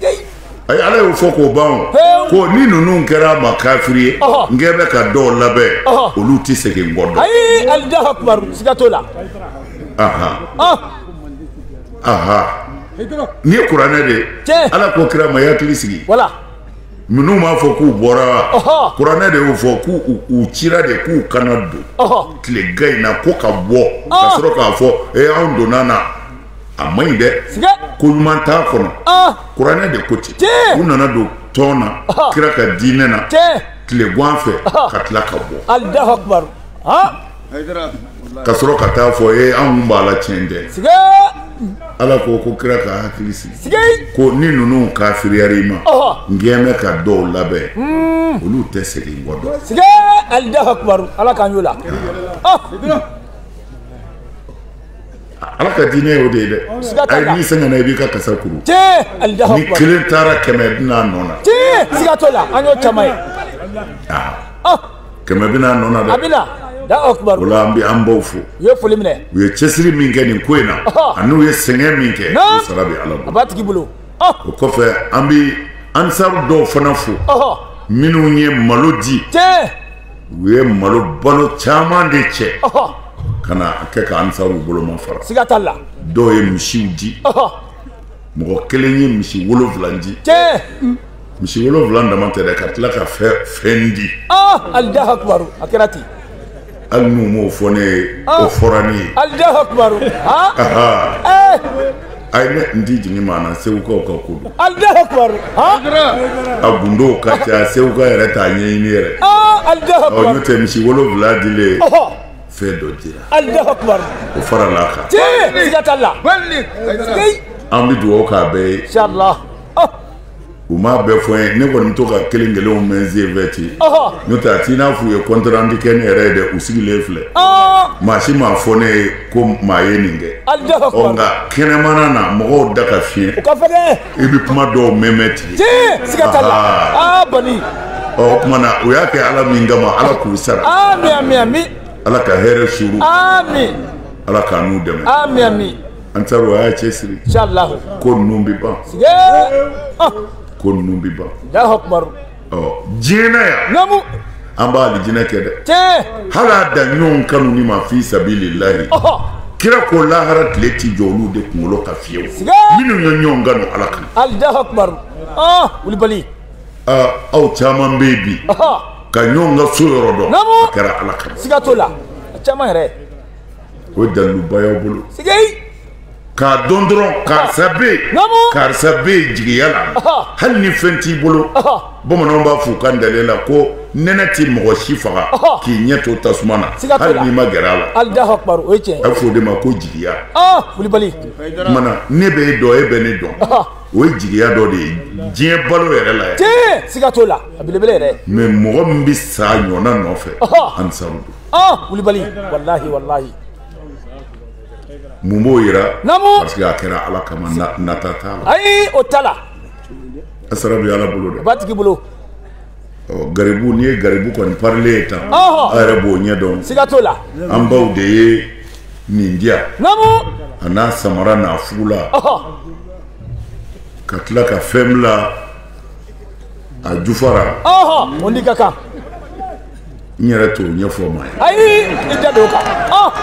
ayi ala y'o fɔ k'o ban o Hewu. ko ni ninnu kɛra a ma kafiri ye Ɔhɔ. n kɛ bɛ ka dɔw labɛn Ɔhɔ. olu tɛ segin n kɔ dɔn ayi Allahu akbar siga t'o la ahan ah ahan nin ye kuranɛ de ye Tiɲɛ. ala ko kira ma i hakili sigi wala minnu b'a fɔ k'u bɔra wa Ɔhɔ. kuranɛ de y'o fɔ k'u u- u cira de k'u ka na don ɔhɔ tilegan in na ko ka bɔ ka Ah. sɔrɔ k'a fɔ e anw donna na a man ɲi dɛ ko ɲuman t'a kɔnɔ kuranɛ de ko ten u nana don tɔn na kira ka diinɛ na tilegan fɛ ka tila ka bɔ ka sɔrɔ ka taa fɔ e anw tun b'a la tiɲɛ tɛ ala ko ko kira k'a hakili sigi ko ni ninnu kafiriyara i ma n kɛ bɛ ka dɔw labɛn hmm. olu tɛ segin kɔ dɔn ala k'an y'o la ala ka diinɛ y'o de ye dɛ ayi n'i sɛgɛnna i b'i ka kasa kuru ni kelen taara kɛmɛ bɛ n'a nɔ na siga t'o la an y'o caman ye kɛmɛ bɛ n'a nɔ na dɛ a bɛ na o la an bɛ an baw fo u ye foli minɛ u ye cɛsiri min kɛ nin ko in na ani u ye sɛgɛn min kɛ o sara bɛ ala bolo a b'a tigi bolo o kɔfɛ an bɛ ansaru dɔw fana fo minnu ye malo di u ye malo balo caman de cɛ ka na a kɛ ka ansaru bolomafara siga t'a la dɔw ye misiw di mɔgɔ kelen ye misi wolonwula di misi wolonwula dama tɛ dɛ ka tila ka fɛn di Allahu akbar a kɛra ten hali n'u m'o fɔ ne ye o fɔra ne ye Allahu akbar ayi ne n ti jigin maa na segukaw ka ko don Allahu akbar han a gundow ka ca seguka yɛrɛ t'a ɲɛɲini yɛrɛ ah Allahu ɔ akbar n'o tɛ misi wolonwula dilen ɔhɔ fɛn dɔ dira Allahu akbar o farala a kan tiɲɛ siga t'a la Wali. Ayi. an bɛ dugawu k'a bɛɛ ye Inshallah. Oh. u m'a bɛɛ fɔ n ye ne kɔni bɛ to ka kelen kelenw mɛn senfɛ ten n'o t'a t'i n'a f'u ye kɔntrandi kɛ ne yɛrɛ ye dɛ u sigilen filɛ maa si ma fɔ ne ye ko maa ye nin kɛ ɔ nka kɛnɛmana na mɔgɔw da ka fiɲɛ i bɛ kuma dɔw mɛnmɛn ten ɔ o tuma na u y'a kɛ ala min kama ala k'u sara ala ka hɛrɛ suuru ala k'an n'u dɛmɛ ansaruw a y'a cɛ siri ko ninnu bɛ ban ah. ko ninnu bɛ ban diɲɛ na yan an b'a alijinɛ kɛ dɛ hali a da ɲɔgɔn kanu nin ma fi sabilillahi kira ko lahara tile ti jɔ olu de kunkolo kan fiyewu minnu ye ɲɔgɔn kanu ala kan Allahu akbar ah, wulibali ah, aw caman bɛ bi ka ɲɔgɔn ka so yɔrɔ dɔn a kɛra ala kan siga t'o la a caman yɛrɛ o ye daliluba y'aw bolo k'a dɔn dɔrɔn karisa bɛ yen karisa bɛ yen jigiya la hali ni fɛn t'i bolo bamananw b'a f'u ka ntalen la ko nɛnɛ ti mɔgɔ si faga k'i ɲɛ to tasuma na hali n'i ma gɛrɛ a la a bɛ f'o de ma ko jigiya wulibali mana ne bɛ e dɔn e bɛ ne dɔn o ye jigiya dɔ de ye diɲɛ balo yɛrɛ la yan siga t'o la a belebele yɛrɛ mɛ mɔgɔ min bɛ sa ɲɔgɔnna nɔfɛ ansaru don wulibali walahi walahi mun b'o yira namu parce que a kɛra ala kama nata t'a la ayi o t'a la a sara bɛ ala bolo dɛ matigi bolo garibu n'i ye garibu kɔni parilen ye tan a yɛrɛ b'o ɲɛ dɔn siga t'o la an baw de ye nin diya namu a n'a samara n'a fugula ka tila ka fɛn bila a jufa ra ɔhɔ o ni ka kan n yɛrɛ t'o ɲɛfɔ maa ye ayi i da don o kan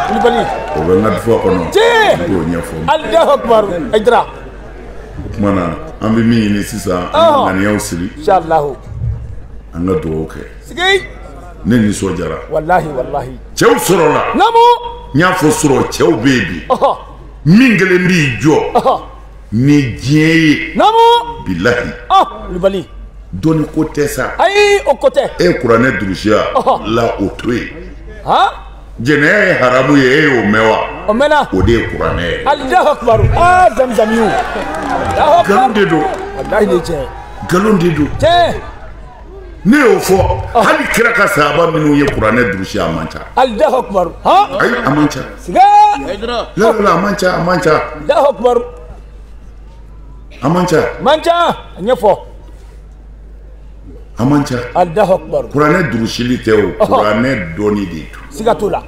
wulibali o bɛ n ka dufa kɔnɔ Tiɲɛ. n t'o ɲɛfɔ maa ye alahu akubaru ayidara o tuma na an bɛ min ɲini sisan an Ɔhɔ. ka ŋaniyaw siri inshalahu an ka dugawu kɛ sigi ne nisɔndiyara walahi walahi cɛw sɔrɔla namu n y'a fɔ sɔrɔ cɛw bɛ yen bi ɔhɔ min kelen b'i jɔ ɔhɔ ni diɲɛ ye namu bilahi wulibali dɔnni ko tɛ sa ayi o ko tɛ e kuranɛ durusiya la o to yen han jɛnɛya ye haramu ye e y'o mɛn wa o mɛnna o de ye kuranɛ ye alahu akubaru aa zamizamiw nkalon de don walahi ni tiɲɛ nkalon de don tiɲɛ ne y'o fɔ hali kira ka sahaba minnu ye kuranɛ durusi a man ca Alahu akibaru ayi a man ca lawula a man ca a man ca Alahu akibaru a man ca a man ca a ɲɛfɔ a man ca Alahu akibaru kuranɛ durusili tɛ o kuranɛ dɔnni de ye siga t'o la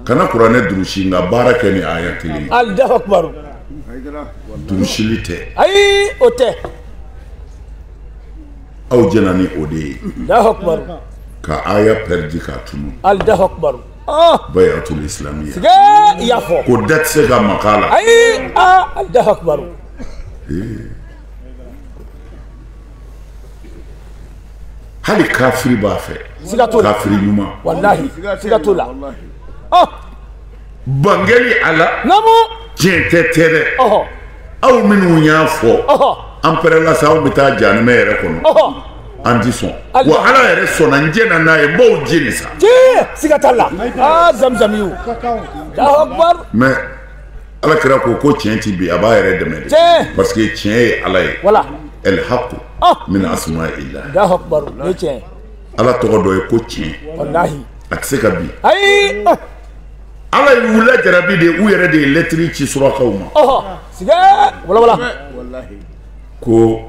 kana kuranɛ durusi nka baara kɛ ni aya kelen ye alahu akibaru durusili tɛ ayi o tɛ aw jɛna ni o de ye alahu akibaru ka aya pɛridi k'a tunu alahu akibaru ah. bayatul islamiya siga i y'a fɔ ko da tɛ se ka maga a la ayi aa ah, alahu akibaru eh. hali kafiri b'a fɛ kafiri ɲuman walahi siga t'o la ah! bangeli a la tiɲɛ tɛ tɛ dɛ aw minnu y'a fɔ an pɛrɛla sa aw bɛ taa janimɛ yɛrɛ kɔnɔ an ti sɔn wa ala yɛrɛ sɔnna n jɛna n'a ye n b'aw jeni sa siga t'a la aa zamzamiw mɛ ala kira ko ko tiɲɛ ti bi a b'a yɛrɛ dɛmɛ de tiɲɛ parce que tiɲɛ ye ala ye wala el haqu oh. min asmaillah Allahu akbar o ye tiɲɛ ye ala tɔgɔ dɔ ye ko tiɲɛ walahi a tɛ se ka bi ayi oh. ala ye u lajarabi de u yɛrɛ de ye lɛtiri ci surakaw ma ɔhɔ sigɛ wala wala ko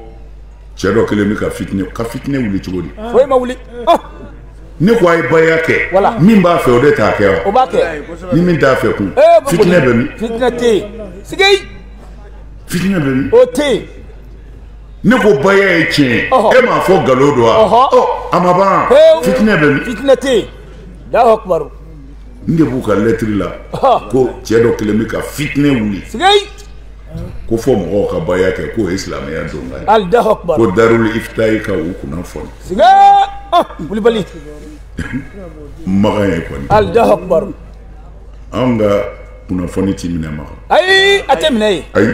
cɛ dɔ kelen bɛ ka fitinɛ ka fitinɛ wuli cogo di foyi ma wuli oh! ne ko a ye baya kɛ min b'a fɛ o de t'a kɛ wa ni min t'a fɛ kun eh, fitinɛ bɛ min fitinɛ tɛ yen sigi fitinɛ bɛ min o tɛ yen ne ko baya ye tiɲɛ ye e m'a fɔ nkalon don wa ɔ a ma ban eh, fitinɛ bɛ min fitinɛ tɛ yen Allahu akbar n de b'u ka lɛtiri la ko cɛ dɔ kelen bɛ ka fitinɛ wuli sigi ko fo mɔgɔw ka baya kɛ k'o ye silamɛya donkan ye Allahu akbar ko darul iftayi ka u kunnafoni siga ah kulibali makan ye kɔni Allahu akbar anw ka kunnafoni ti minɛ makan ayi a tɛ minɛ ye ayi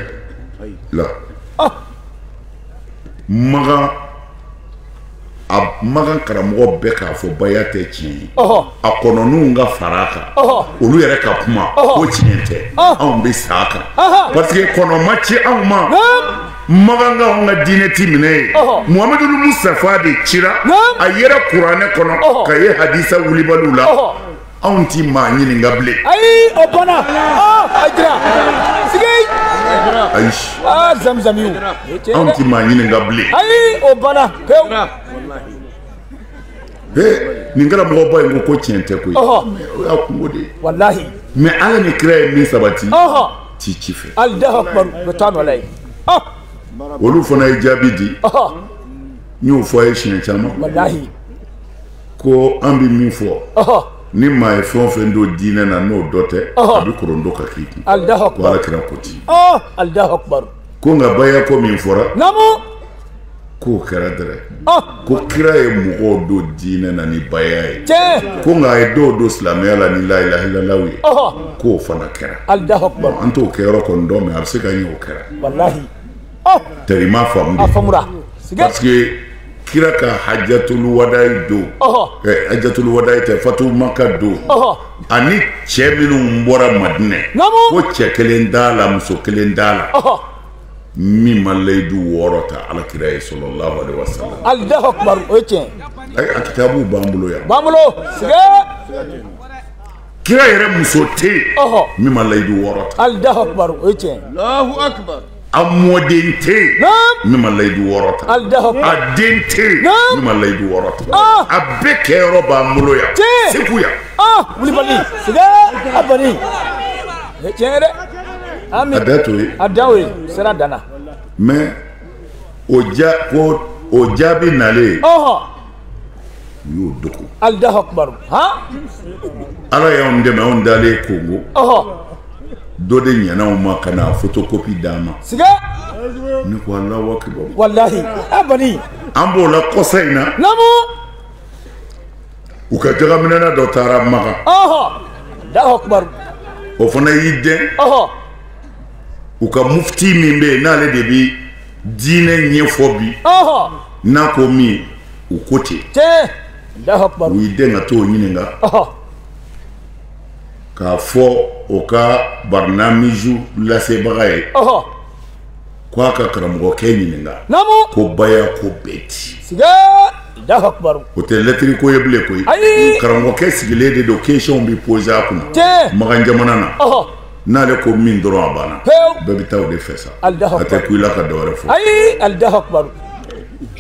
la ah makan a makan karamɔgɔw bɛɛ k'a fɔ baya tɛ tiɲɛ ye a kɔnɔninw ka fara a kan olu yɛrɛ ka kuma ko tiɲɛ tɛ anw bɛ sa a kan parce que kɔnɔ ma ci anw ma makan ka anw ka diinɛ ti minɛ ye muhamadu mustafa de cira a yera kuranɛ kɔnɔ ka ye hadisa wulibaliw la anw ti maa ɲininka bilen ayi o banna a jira sigi ayi aa zamzamiw anw ti maa ɲininka bilen ayi o banna pewu he nin kɛra mɔgɔba ye ko ko tiɲɛ tɛ koyi o y'a kunko de ye walahi mais ala ni kira ye min sabati ti ci fɛ Allahu akbar bɛ taa nɔ la ye olu fana ye jaabi di n y'o fɔ a ye siɲɛ caman walahi ko an bɛ min fɔ ni maa ye fɛn o fɛn don diinɛ na n'o dɔ tɛ a bɛ korondo ka k'i kun ko ala kira ko ten ko nka baya ko min fɔra k'o kɛra dɛrɛ ko kira ye mɔgɔw don diinɛ na ni baya ye ko nka a ye dɔw don silamɛya la ni la ilaha illallah ye k'o fana kɛra an t'o kɛyɔrɔ kɔni dɔn mais a bɛ se ka ɲɛ o kɛra tari i m'a faamu a faamura parce que kira ka hajatulu wadayi don eh, hajatulu wadayi tɛ fatu maka don ani cɛ minnu bɔra madinɛ ko cɛ kelen t'a la muso kelen t'a la min ma layidu wɔɔrɔ ta ala kira ye sallallahu alaihi wa sallam Allahu akbar o ye tiɲɛ a kitabu b'an bolo yan b'an bolo kira yɛrɛ muso tɛ yen min ma layidu wɔɔrɔ ta alahu akubaru o ye tiɲɛ ye alahu akubaru a mɔden tɛ yen min ma layidu wɔɔrɔ ta alahu akubaru a den tɛ yen min ma layidu wɔɔrɔ ta a bɛɛ kɛyɔrɔ b'an bolo yan segu yan wulibali siga a bani o ye tiɲɛ ye dɛ ami a da to ye a da o ye sira danna mais o ja ko o jaabi nalen u y'o dogo alahu akubaru han ala y'anw dɛmɛ anw dalen kongo ɔhɔ dɔ de ɲɛna anw ma ka na fotokopi d'an ma siga ne ko alahu akibaru walahi a bani an b'o la kɔsa in na namu u ka jakaminɛna dɔ taara makan ɔhɔ alahu akubaru o fana y'i dɛn ɔhɔ u ka mufti min bɛ yen n'ale de bi diinɛ ɲɛfɔ bi n'a ko min u ko ten u y'i dɛn ka t'o ɲininka k'a fɔ o ka barinamiju lasebaga ye ko a ka karamɔgɔkɛ ɲininka ko baya ko bɛ di o tɛ lɛtiri ko ye bilen koyi karamɔgɔkɛ sigilen de don kesiyɔnw bɛ poze a kunna makan jamana na n'ale ko min dɔrɔn a banna bɛɛ bɛ taa o de fɛ sa a tɛ kun i la ka dɔ wɛrɛ fɔ ayi alahu akubaru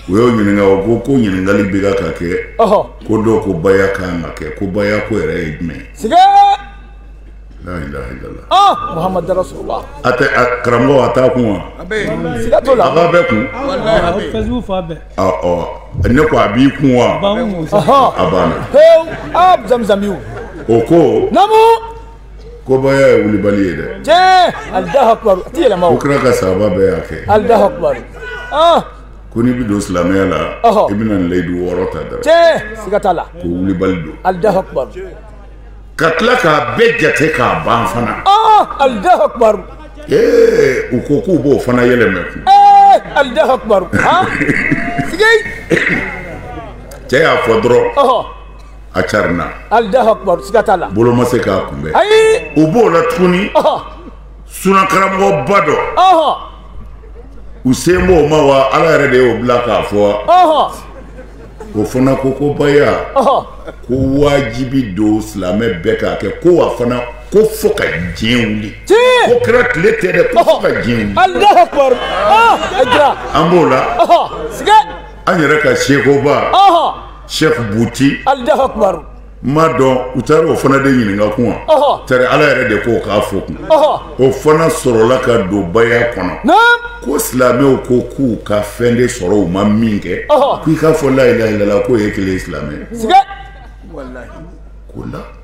u y'o ɲininka o ko ko ɲininkali bɛ ka ka kɛ ko dɔw ko baya kan ka kɛ ko baya ko yɛrɛ ye jumɛn ye la ilaha illallah ah muhammad rasulullah a tɛ karamɔgɔ a t'a kun wa a bɛ siga t'o la a b'a bɛɛ kun walahi a bɛ facebook fa bɛɛ ɔ ɔ ne ko a b'i kun wa a banna a banna pewu ah zamzamiw o ko namu ko baya ye wulibali ye dɛ tiɲɛ alahu akubaru a ti yɛlɛma o ko kira ka sahaba bɛɛ y'a kɛ alahu akubaru ah ko n'i bɛ don silamɛya la ɔhɔ i bɛna layidu wɔɔrɔ ta dɔrɔn tiɲɛ siga t'a la ko wulibali don alahu akubaru ka tila k'a bɛɛ jate k'a ban fana ah alahu akubaru ee u ko k'u b'o fana yɛlɛmɛ kun ee alahu akubaru ah siga cɛ y'a fɔ dɔrɔn ɔhɔ a carina alahu akubar siga t'a la bolo ma se k'a kunbɛn ayi u b'o la tuguni sunakaramɔgɔba dɔ u sen b'o ma wa ala yɛrɛ de y'o bila k'a fɔ o fana ko ko baya ko wajibi don silamɛ bɛɛ k'a kɛ ko a fana ko fo ka diɲɛ wuli ko kira tile tɛ dɛ ko fo ka diɲɛ wuli an b'o la an yɛrɛ ka sekoba Cheikh Bouti Allahu Akbar m'a dɔn u taara o fana de ɲininka kun wa ɔhɔ tari Ala yɛrɛ de k'o k'a fɔ kun ɔhɔ o fana sɔrɔla ka don baya kɔnɔ naam ko silamɛw ko k'u ka fɛn de sɔrɔ u ma min kɛ ɔhɔ k'i k'a fɔ la ilaha illallah k'o ye kelen ye silamɛ siga t'o la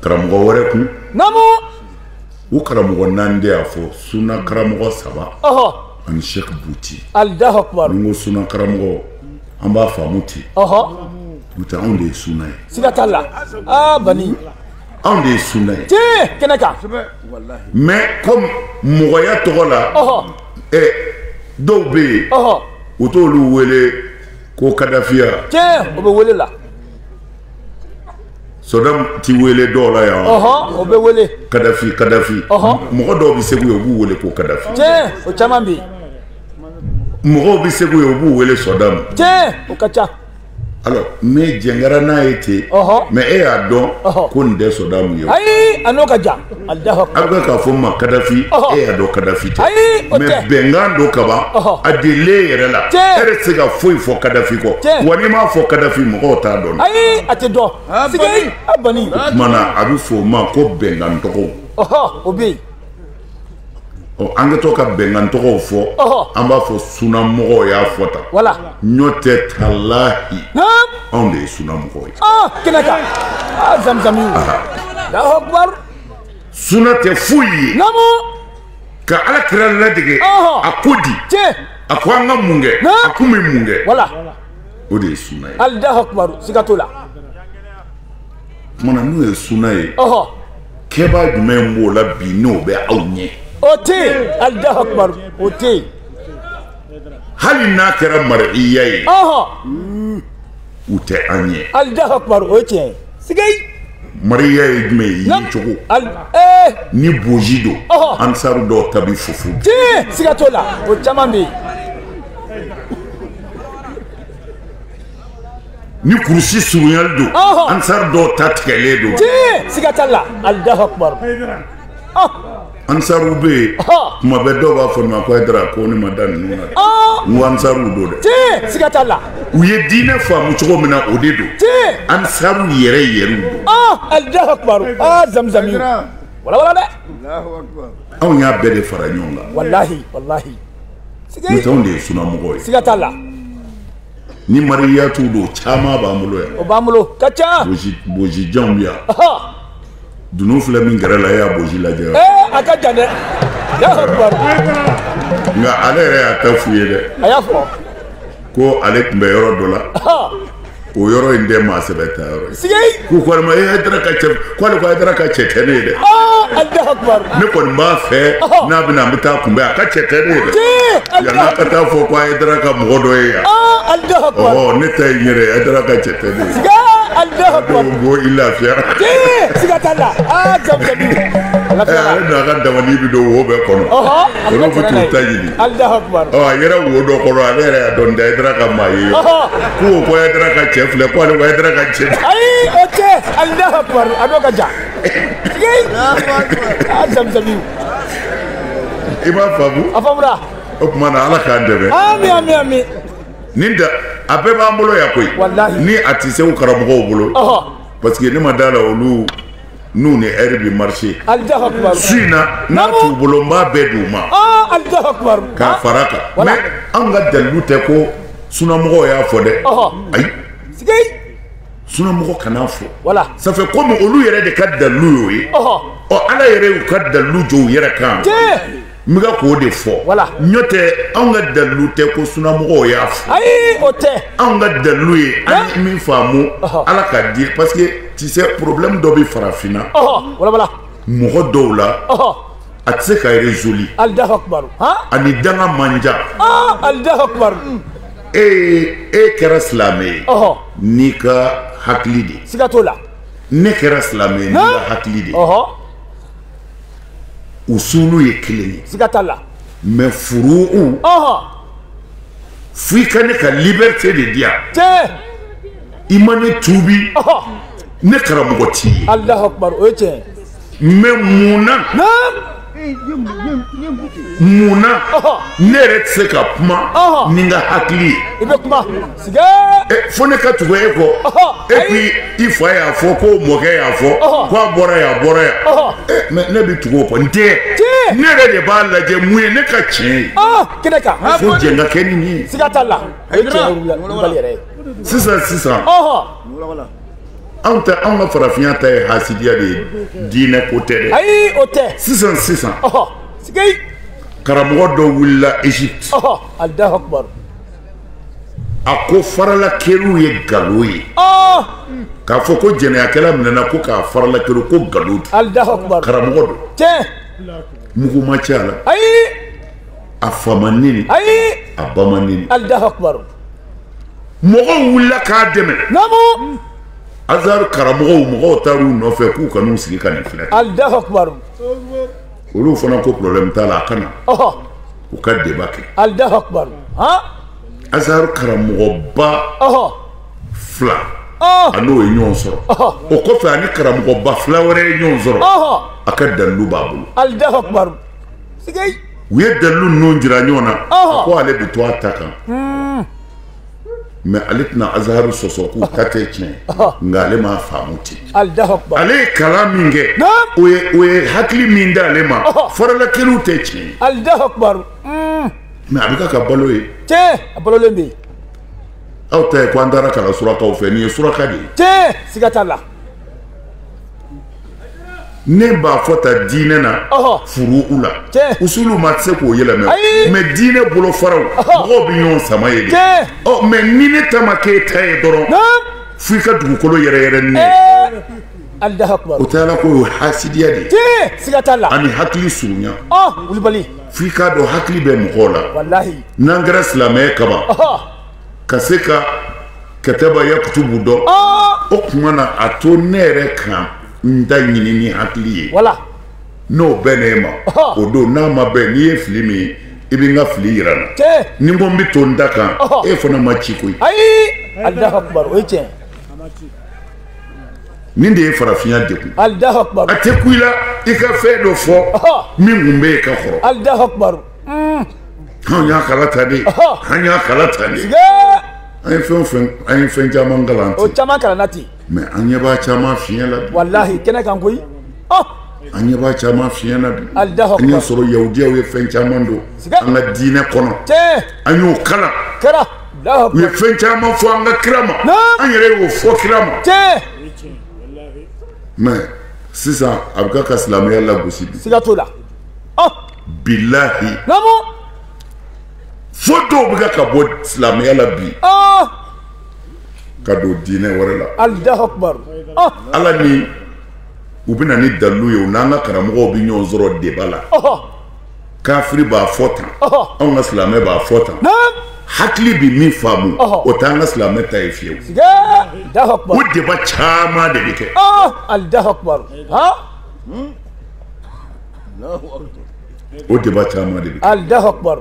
karamɔgɔ wɛrɛ kun namu o karamɔgɔ naani de y'a fɔ suna karamɔgɔ saba ɔhɔ ani sɛki buti alahu akubaru ni n ko suna karamɔgɔ an b'a faamu ten ɔhɔ n'o tɛ anw de ye suna ye siga t'a la aa bani anw de ye suna ye tiɲɛ kɛnɛ kan mais comme mɔgɔya tɔgɔ la ɔhɔ ɛ dɔw bɛ yen ɔhɔ u t'olu wele ko kadafi yan tiɲɛ o bɛ wele la Sadamu tɛ wele dɔw la yan, ɔhɔ, o bɛ wele, Kadafi, Kadafi, ɔhɔ, mɔgɔ dɔw bɛ Segu yan u b'u wele ko Kadafi, tiɲɛ, o caman bɛ yen, mɔgɔw bɛ Segu yan u b'u wele Sadamu, tiɲɛ, o ka ca, alors mais jɛn kɛra n'a ye ten, ɔhɔ, mais e y'a dɔn ko nin tɛ Sadamu ye, ayi, a n'o ka jan a bɛ k'a fɔ ma kadafi e y'a dɔn kadafi tɛ mais bɛnkan don kaban a delilen yɛrɛ la e yɛrɛ tɛ se ka foyi fɔ kadafi kɔ wa n'i m'a fɔ kadafi mɔgɔw t'a dɔn a tɛ dɔn ah, ah, o tuma na a bɛ fɔ o ma ko bɛnkan tɔgɔw o bɛ yen ɔ an kɛtɔ ka bɛnkan tɔgɔw fɔ an b'a fɔ sunamɔgɔw y'a fɔ tan n'o tɛ talahi anw de ye sunamɔgɔw ye kɛnɛ kan zamzami suna tɛ foyi ye ka ala kira ladege a ko di a ko an ka mun kɛ a tun bɛ mun kɛ o de ye suna ye alahu akubaru siga t'o la tuma na n'o ye suna ye kɛbaa jumɛn b'o la bi n'o bɛ aw ɲɛ o tɛ yen alahu akubaru o tɛ yen hali n'a kɛra mariya ye u tɛ an ɲɛ alahu akubaru o ye tiɲɛ ye sɛki mariya ye jumɛn ye yecogo eh! ni bonzi don ansaru dɔw ta bi fufu tiɲɛ siga t'o la o caman bɛ yen ni kurusi surunyali don ansaru dɔw ta tigɛlen don siga t'a la alahu akubar ansaru bɛ yen tuma bɛɛ dɔw b'a fɔ ma ko hayidara ko ne ma da ninnu na n ko ansaru don dɛ siga t'a la u ye diinɛ faamu cogo min na o de don ansaru yɛrɛ yɛrɛw don alahu akubar zamzami walawala dɛ anw y'a bɛɛ de fara ɲɔgɔn kan walahi walahi n'o tɛ anw de ye sunamɔgɔw ye siga t'a la ni mariyatu don caman b'an bolo yan o b'an bolo ka ca bonzi janw bɛ yan dunun filɛ min gɛrɛ la e y'a bonzi lajɛ a ka jan dɛ nka ale yɛrɛ y'a ta f'u ye dɛ a y'a fɔ ko ale tun bɛ yɔrɔ dɔ la o yɔrɔ in tɛ maa sɛbɛ taayɔrɔ ye k'u ko ne ma Haidara ka cɛ k'ale ko Haidara ka cɛ tɛ ne ye dɛ ne kɔni b'a fɛ n'a bɛ na an bɛ taa kunbɛn a ka cɛ tɛ ne ye dɛ yan'a ka taa fɔ ko Haidara ka mɔgɔ dɔ ye yan ɔɔ ne ta ye n yɛrɛ Haidara ka cɛ tɛ ne ye ko i lafiya siga t'a la aa jamu jamu ale n'a ka dabali bɛ don wo bɛɛ kɔnɔ olu bɛ t'u ta ɲini yɛrɛ wo dɔ kɔnɔ ale yɛrɛ y'a dɔn Haidara ka maa ye ko Haidara ka cɛ filɛ ko ale ko Haidara ka cɛ ayi o tɛ a n'o ka jan i b'a faamu a faamura o tuma na ala k'an dɛmɛ ami ami ami nin da a bɛɛ b'an bolo yan koyi ni a tɛ se karamɔgɔw bolo parce que ne ma d'a la olu n'u ni ɛri bɛ marché su in na n'a t'u bolo n b'a bɛɛ d'u ma k'a fara kan mais anw ka dalilu tɛ ko sunamɔgɔw y'a fɔ dɛ ayi sunamɔgɔ kan'a fɔ ça fait comme olu yɛrɛ de ka dalilu y'o ye ɔ ala yɛrɛ y'u ka dalilu jɔ u yɛrɛ kan n bɛ ka k'o de fɔ n'o tɛ anw ka dalilu tɛ ko sunamɔgɔw y'a fɔ ayi o tɛ anw ka dalilu ye an ye min faamu ala ka di parce que tu sais problème dɔ bɛ farafinna mɔgɔ dɔw la a tɛ se ka résoudre a ni danga man jan e e kɛra silamɛ ye n'i ka hakili de siga t'o la ne kɛra silamɛ ye n'i ka hakili de usulu ye kelen ye siga t'a la mais furu'u f'i ka ne ka liberté de di yan tiɲɛ i ma ne tuubi ne karamɔgɔ t'i ye alahu akubar o ye tiɲɛ ye mais mun na mun na ne yɛrɛ tɛ se ka kuma ni n ka hakili ye i bɛ kuma fo ne ka tugu e kɔ et puis i fa y'a fɔ ko mɔkɛ y'a fɔ ko a bɔra yan a bɔra yan mais ne bɛ tugu o kɔ n tɛ ne yɛrɛ de b'a lajɛ mun ye ne ka tiɲɛ ye kɛnɛ kan fo jɛn ka kɛ ni nin ye siga t'a la o ye tiɲɛ wulibali yɛrɛ ye sisan sisan anw tɛ anw ka farafinya ta ye hasidiya de ye diinɛ ko tɛ dɛ ayi o tɛ sisan sisan karamɔgɔ dɔ wulila Égypte. Alahu akibaru. a ko faralakɛrun ye nkalon ye k'a fɔ ko jɛnɛyakɛla minɛna ko k'a faralakɛrun ko nkalon don karamɔgɔ don mugu ma ci a la a fa ma neni a ba ma neni mɔgɔw wulila k'a dɛmɛ azari karamɔgɔw mɔgɔw taar'u nɔfɛ k'u ka n'u sigi ka nin filɛ olu fana ko problème t'a la a ka na u ka débat kɛ alahu akbar azharu karamɔgɔba fila a n'o ye ɲɔgɔn sɔrɔ o kɔfɛ ani karamɔgɔba fila wɛrɛ ye ɲɔgɔn sɔrɔ a ka dalilu b'a bolo alahu akbar u ye dalilu ninnu jira ɲɔgɔn na a ko ale bɛ to a ta kan mais ale tɛna azharu sɔsɔ k'u ta tɛ tiɲɛ nka ale m'a faamu ten ale ye kalan min kɛ o ye hakili min d'ale ma faralakɛliw tɛ tiɲɛ alahu akbar mais a bɛ ka ka balo ye tiɲɛ a balolen bɛ yen aw ta ye ko an taara kalan surakaw fɛ nin ye suraka de ye tiɲɛ siga t'a la ne b'a fɔ tan diinɛ na furu'u la usulu maa tɛ se k'o yɛlɛmɛ mais diinɛ bolofaraw mɔgɔw bɛ ɲɔgɔn sama yen de ɔ mais ni ne ta ma k'e ta ye dɔrɔn fo i ka dugukolo yɛrɛyɛrɛ ni ne o tɛ ala ko o ye hasidiya de ye siga t'a la ani hakili surunya wulibali f'i k'a dɔn hakili bɛ mɔgɔw la n'an kɛra silamɛ kaban ka se ka kɛtɛba yakutubu dɔn o tuma na a to ne yɛrɛ ka n ta ɲini ni hakili ye n'o bɛn ne ma o don n'a ma bɛn n'i ye fili min ye i bɛ n ka fili yira n na ni n ko n bɛ to n ta kan e fana ma ci koyi nin de ye farafinya degun a tɛ kun i la i ka fɛn dɔ fɔ min kun bɛ yen ka kɔrɔ anw y'a kalan tan de an y'a kalan tan de an ye fɛn fɛn an ye fɛn caman kalan o caman kalanna ten mais an ɲɛ b'a caman fiɲɛ la bi walahi kɛnɛ kan koyi an ɲɛ b'a caman fiɲɛ na bi an y'a sɔrɔ yahudiyaw ye fɛn caman don an ka diinɛ kɔnɔ an y'o kalan kɛra u ye fɛn caman fɔ an ka kira ma an yɛrɛ y'o fɔ kira ma mais sisan a bɛ ka ka silamɛya lagosi bi siga t'o la bilahi naamu fo dɔw bɛ ka ka bɔ silamɛya la bi ah! ka don diinɛ wɛrɛ la alahu akbar ah! ala ni u bɛ na ni dalilu ye u n'an ka karamɔgɔw bɛ ɲɔgɔn sɔrɔ débat la kafiri b'a fɔ tan anw ka silamɛ b'a fɔ tan hakili bɛ min faamu o t'an ka silamɛ ta ye fiyewu o débat caman de bɛ kɛ o débat caman de bɛ kɛ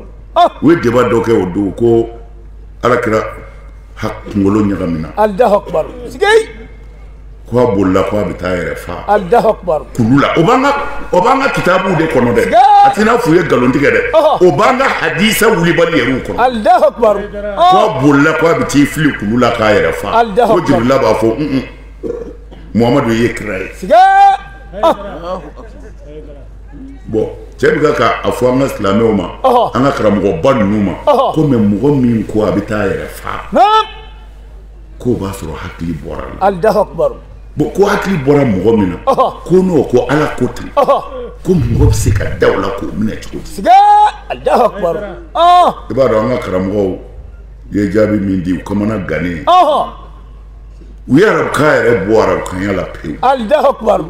u ye débat dɔ kɛ o don ko ala kira kunkolo ɲagamina ko a bolila ko a bɛ taa a yɛrɛ faa kulu la o b'an ka o b'an ka kitabuw de kɔnɔ dɛ a t'i n'a fɔ u ye nkalon tigɛ dɛ o b'an ka hadisa wulibali yɛrɛw kɔnɔ ko a bolila ko a bɛ t'i fili kulu la k'a yɛrɛ faa ko jibirila b'a fɔ muhamadu ye kira ye bɔn cɛ bɛ ka k'a fɔ an ka silamɛw ma an ka karamɔgɔba ninnu ma ko mɛ mɔgɔ min ko a bɛ taa a yɛrɛ faa k'o b'a sɔrɔ hakili bɔr'a la bɔn ko hakili bɔra mɔgɔ min na ko n'o ko ala ko ten ko mɔgɔ bɛ se ka da o la k'o minɛ cogo di i b'a dɔn an ka karamɔgɔw ye jaabi min di u kamana gannen u ye arabukan yɛrɛ bɔ arabukanya la pewu alahu akubaru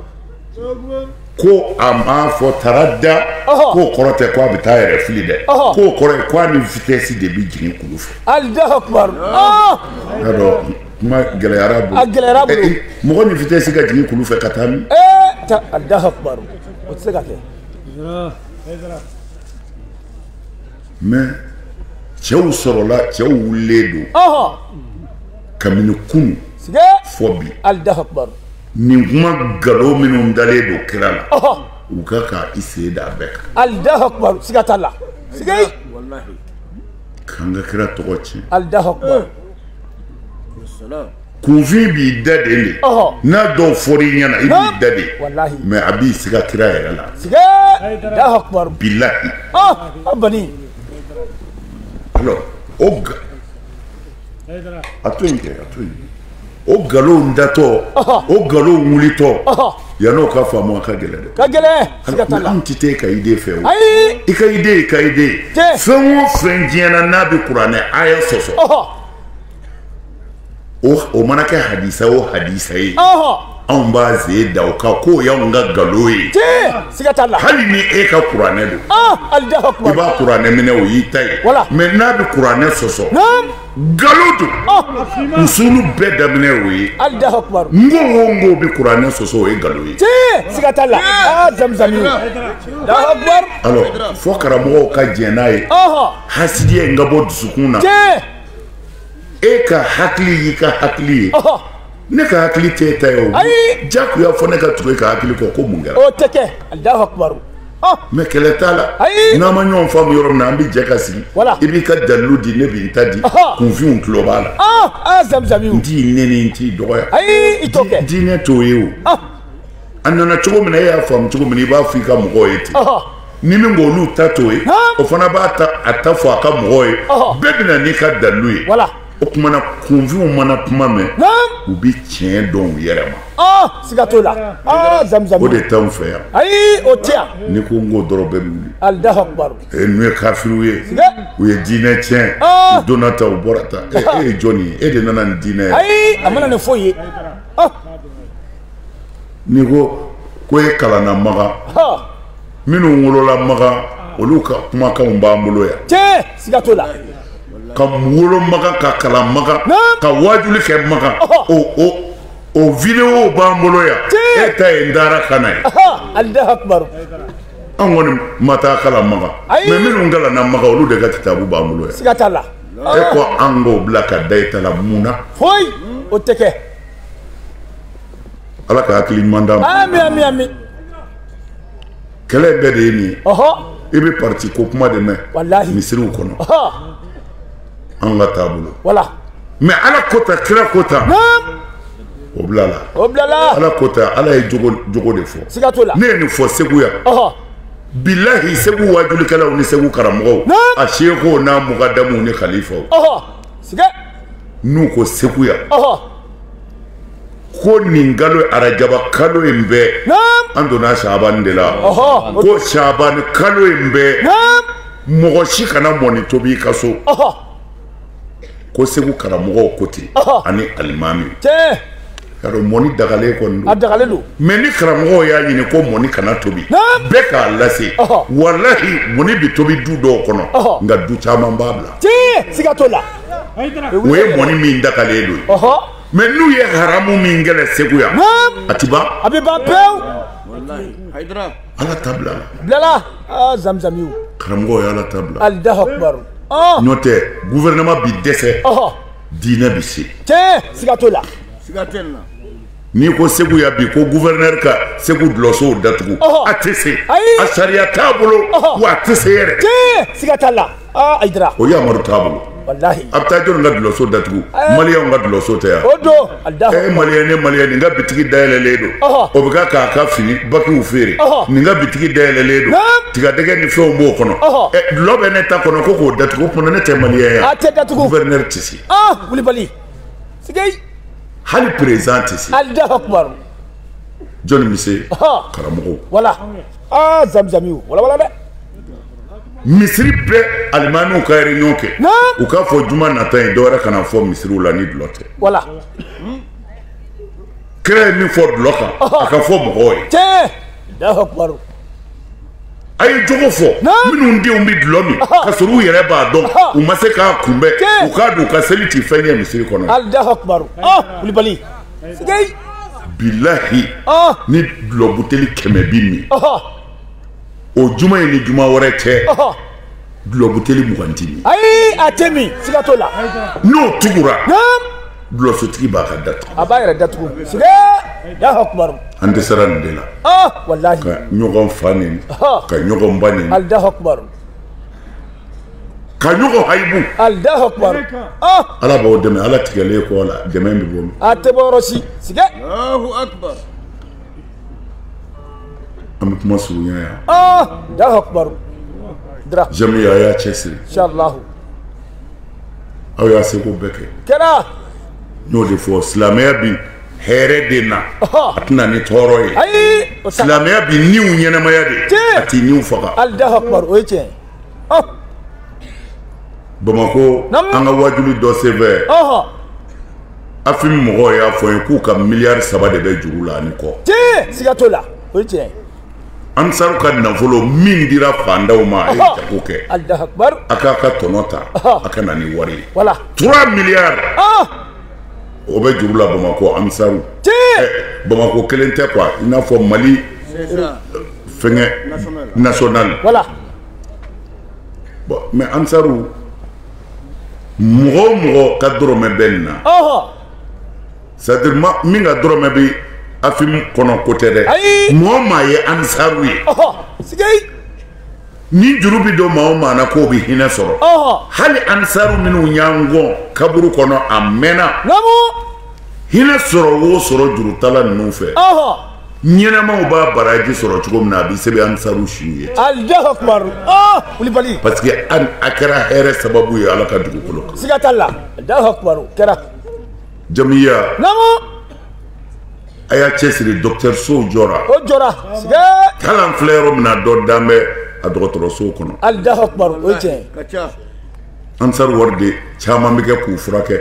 ko a m'a fɔ tarada k'o kɔrɔ tɛ ko a bɛ taa a yɛrɛ fili dɛ k'o kɔrɔ ye ko a ni vitɛsi de bɛ jigin kulu fɛ alahu akubaru i y'a dɔn kuma gɛlɛyara a bolo a gɛlɛyara a bolo eh, eh, mɔgɔ ni vitɛsi ka jigin kulu fɛ ka taa min eh, alahu akubaru o tɛ se ka kɛ mɛ cɛw sɔrɔla cɛw wulilen don kabini kunun fo bi nin kuma nkalon minnu dalen don kira la u ka ka i sen da bɛɛ kan alahu akubar siga t'a la siga k'an ka kira tɔgɔ tiɲɛ alahu akubar kunfin b'i da de de n'a dɔw fɔra i ɲɛna i b'i da de mɛ a b'i siga kira yɛrɛ la siga alahu akubar bilahi a bani alors o a to yen kɛ a to yen o nkalon datɔ o nkalon wulitɔ yan'o ka faamu a ka gɛlɛn dɛ a ka gɛlɛn siga t'a la an tɛ taa i ka ide fɛ o ayi i ka ide i ka ide fɛn o fɛn diɲɛ na n'a bɛ kuranɛ aya sɔsɔ o mana kɛ hadisa o hadisa ye anw b'an sen da o kan k'o y'anw ka galo ye siga t'a la hali ni e ka kuranɛ don i b'a kuranɛ minɛ o y'i ta ye mɛ n'a bɛ kuranɛ sɔsɔ galo don usulu bɛɛ daminɛ o ye ko o ko bɛ kuranɛ sɔsɔ o ye galo ye siga t'a la zamzami alors fo karamɔgɔw ka jɛn n'a ye hasidiya in ka bɔ dusukun na e ka hakili y'i ka hakili ye ne ka hakili tɛ e ta ye o jagoya fo ne ka tugu e ka hakili kɔ ko mun kɛra o tɛ kɛ alahu akubaru ah. mɛ kɛlɛ t'a la n'an ma ɲɔgɔn faamu yɔrɔ min na an bɛ jɛ ka sigi i b'i ka dalilu di ne bɛ n ta di kunfinw tulo b'a la ah, ah, n t'i nɛni n t'i dɔgɔya diinɛ t'o ye o a nana cogo min na e y'a faamu cogo min na i b'a fɔ i ka mɔgɔw ye ten ni min k'olu ta t'o ye o fana b'a ta fɔ a ka mɔgɔw ye bɛɛ bɛ na n'i ka dalilu ye o tuma na kunfinw mana kuma mɛn u bɛ tiɲɛ dɔn u yɛrɛ ma ah, siga t'o la ah, o de t'anw fɛ yan ayi o tɛ yan ni ko n k'o dɔrɔn bɛɛ bɛ wuli alahu akubaru ee n'u ye kafiriw ye u ye diinɛ tiɲɛ ah. u donna ta u bɔra ta e, e ye jɔni ye e de nana ni diinɛ ye ayi a ma na ni foyi ye n'i ko ko e kalanna makan minnu wolola makan olu ka kumakanw b'an bolo yan tiɲɛ siga t'o la ka wolo makan ka kalan makan ka waajuli kɛ makan o o o video b'an bolo yan e ta ye n dara ka na ye an kɔni ma taa kalan makan mɛ minnu kalanna makan olu de ka kitabu b'an bolo yan siga t'a la e ko an k'o bila ka da i ta la mun na foyi o tɛ kɛ ala ka hakili ɲuman d'an ma ami ami ami kɛlɛ bɛɛ de ye nin ye i bɛ parti ko kuma de mɛn misiriw kɔnɔ an ka taabolo mɛ ala kota kira kota o bilala o bilala ala kota ala ye jogo jogo de fɔ siga t'o la ne ye nin fɔ segu yan bilahi segu wajulikɛlaw ni segu karamɔgɔw a sekuw n'a mugadamuw ni kalifaw siga n'u ko segu yan ko nin kalo arajaba kalo in bɛɛ an donna shabani de la ko shabani kalo in bɛɛ mɔgɔ si kana mɔni tobi i ka so ko segu karamɔgɔw ko ten ani alimami y'a dɔn mɔni dagalen kɔni don a dagalen don mɛ ni karamɔgɔw y'a ɲini ko mɔni kana tobi bɛɛ k'a lase walahi mɔni bɛ tobi du dɔw kɔnɔ nka du caman b'a bila siga t'o la o ye mɔni min dagalen don mɛ n'u ye haramu min kɛlɛ segu yan a ti ban a bɛ ban pewu ala ta bila bilala ah, zamzamiw karamɔgɔw ye ala ta bila alahu akubaru ah. n'o tɛ guvɛrɛnɛma bi dɛsɛ diinɛ bi se tiɲɛ siga t'o la siga t'a la n'i ko segu yan bi ko guvɛrɛnɛri ka segu dulɔsow datugu a tɛ se a sariya t'a bolo wa a tɛ se yɛrɛ siga t'a la ayidara o yamaru t'a bolo walahi a bɛ taa jɔni ka dulɔso datugu eh. maliyɛnw ka dulɔso tɛ yan o don e eh, maliyɛn ne maliyɛn nin ka bitigi dayɛlɛlen don o bɛ ka k'a ka fini bakiw feere nin ka bitigi dayɛlɛlen don tigadɛgɛ ni fɛnw b'o kɔnɔ eh, dulɔ bɛ ne ta kɔnɔ ko k'o datugu kuma ne tɛ maliyɛn yan a tɛ datugu gouverneur tɛ se kulibali sigei hali peresidan tɛ se alahu akubaru jɔni bɛ se karamɔgɔw wala aa zamzamiw walawala dɛ misiri bɛɛ alimamiw ka réunion kɛ u k'a fɔ juma nata ye dɔ wɛrɛ kana fɔ misiriw la ni dulɔ tɛ voilà kira ye min fɔ dulɔ kan a ka fɔ mɔgɔw ye tiɲɛ Alahu akibaru a ye jogo fɔ minnu denw bɛ dulɔ min ka sɔrɔ u yɛrɛ b'a dɔn u ma se k'a kunbɛn u k'a dɔn u ka seli ti fɛn ɲɛ misiri kɔnɔ Alahu akibaru ɔ Kulibali sigeyi bilahi ni dulɔ buteli kɛmɛ bi min o juma ye ni juma wɛrɛ cɛ dulɔbuteli mugan ti min ayi a tɛ min siga t'o la n'o tugura dulɔsotigi b'a ka datugu a b'a yɛrɛ datugu sige Alahu akibaru an dɛsɛra nin de la walahi ka ɲɔgɔn fa neni ka ɲɔgɔn ba neni Alahu akibaru ka ɲɔgɔn hayibu Alahu akibaru ala b'aw dɛmɛ ala tigɛlen kɔ la dɛmɛ bɛ bɔ min a tɛ bɔ yɔrɔ si sige an bɛ kuma surunya yan Alahu akibaru kɛra jamiya a y'a cɛsiri insalahu aw y'a seko bɛɛ kɛ kɛra n y'o de fɔ silamɛya bi hɛrɛ de na Ɔhɔ. a tɛ na ni tɔɔrɔ ye ayi o tɛ silamɛya bi niw ɲɛnamaya de Tiɲɛ. a ti niw faga Alahu akibaru o ye tiɲɛ ye bamakɔ an ka wajuli dɔ senfɛ afim mɔgɔw y'a fɔ n ye k'u ka miliyari saba de bɛ juru la ani kɔ tiɲɛ siga t'o la o ye tiɲɛ ye ansaru ka nafolo min dira fandaw ma a ye jago kɛ a k'a ka tɔnɔ ta a ka na ni wari ye trois miliyari o bɛ juru la bamakɔ ansaru bamakɔ kelen tɛ quoi i n'a fɔ mali fɛnkɛ national voilà bon mais ansaru mɔgɔ o mɔgɔ ka dɔrɔmɛ bɛ nin na ɔhɔ c'est à dire maa min ka dɔrɔmɛ bɛ afim kɔnɔ ko tɛ dɛ ayi mɔgɔ maa ye ansaru ye ɔhɔ sigei ni juru bɛ don maa o maa na k'o bɛ hinɛ sɔrɔ ɔhɔ hali ansaru minnu y'an kɔn kaburu kɔnɔ a mana namu hinɛ sɔrɔ o sɔrɔ jurutala ninnu fɛ ɔhɔ ɲɛnɛmaw b'a baraji sɔrɔ cogo min na a bɛ sɛbɛn ansaru suw ye parce que a kɛra hɛrɛ sababu ye ala ka dugukolo kan siga t'a la kɛra jamiya a y'a cɛsiri dɔkitɛrisow jɔra o jɔra siga t'a la an filɛ yɔrɔ min na dɔ dalen bɛ a dɔgɔtɔrɔsow kɔnɔ o ye tiɲɛ ye ansar wari de caman bɛ kɛ k'u furakɛ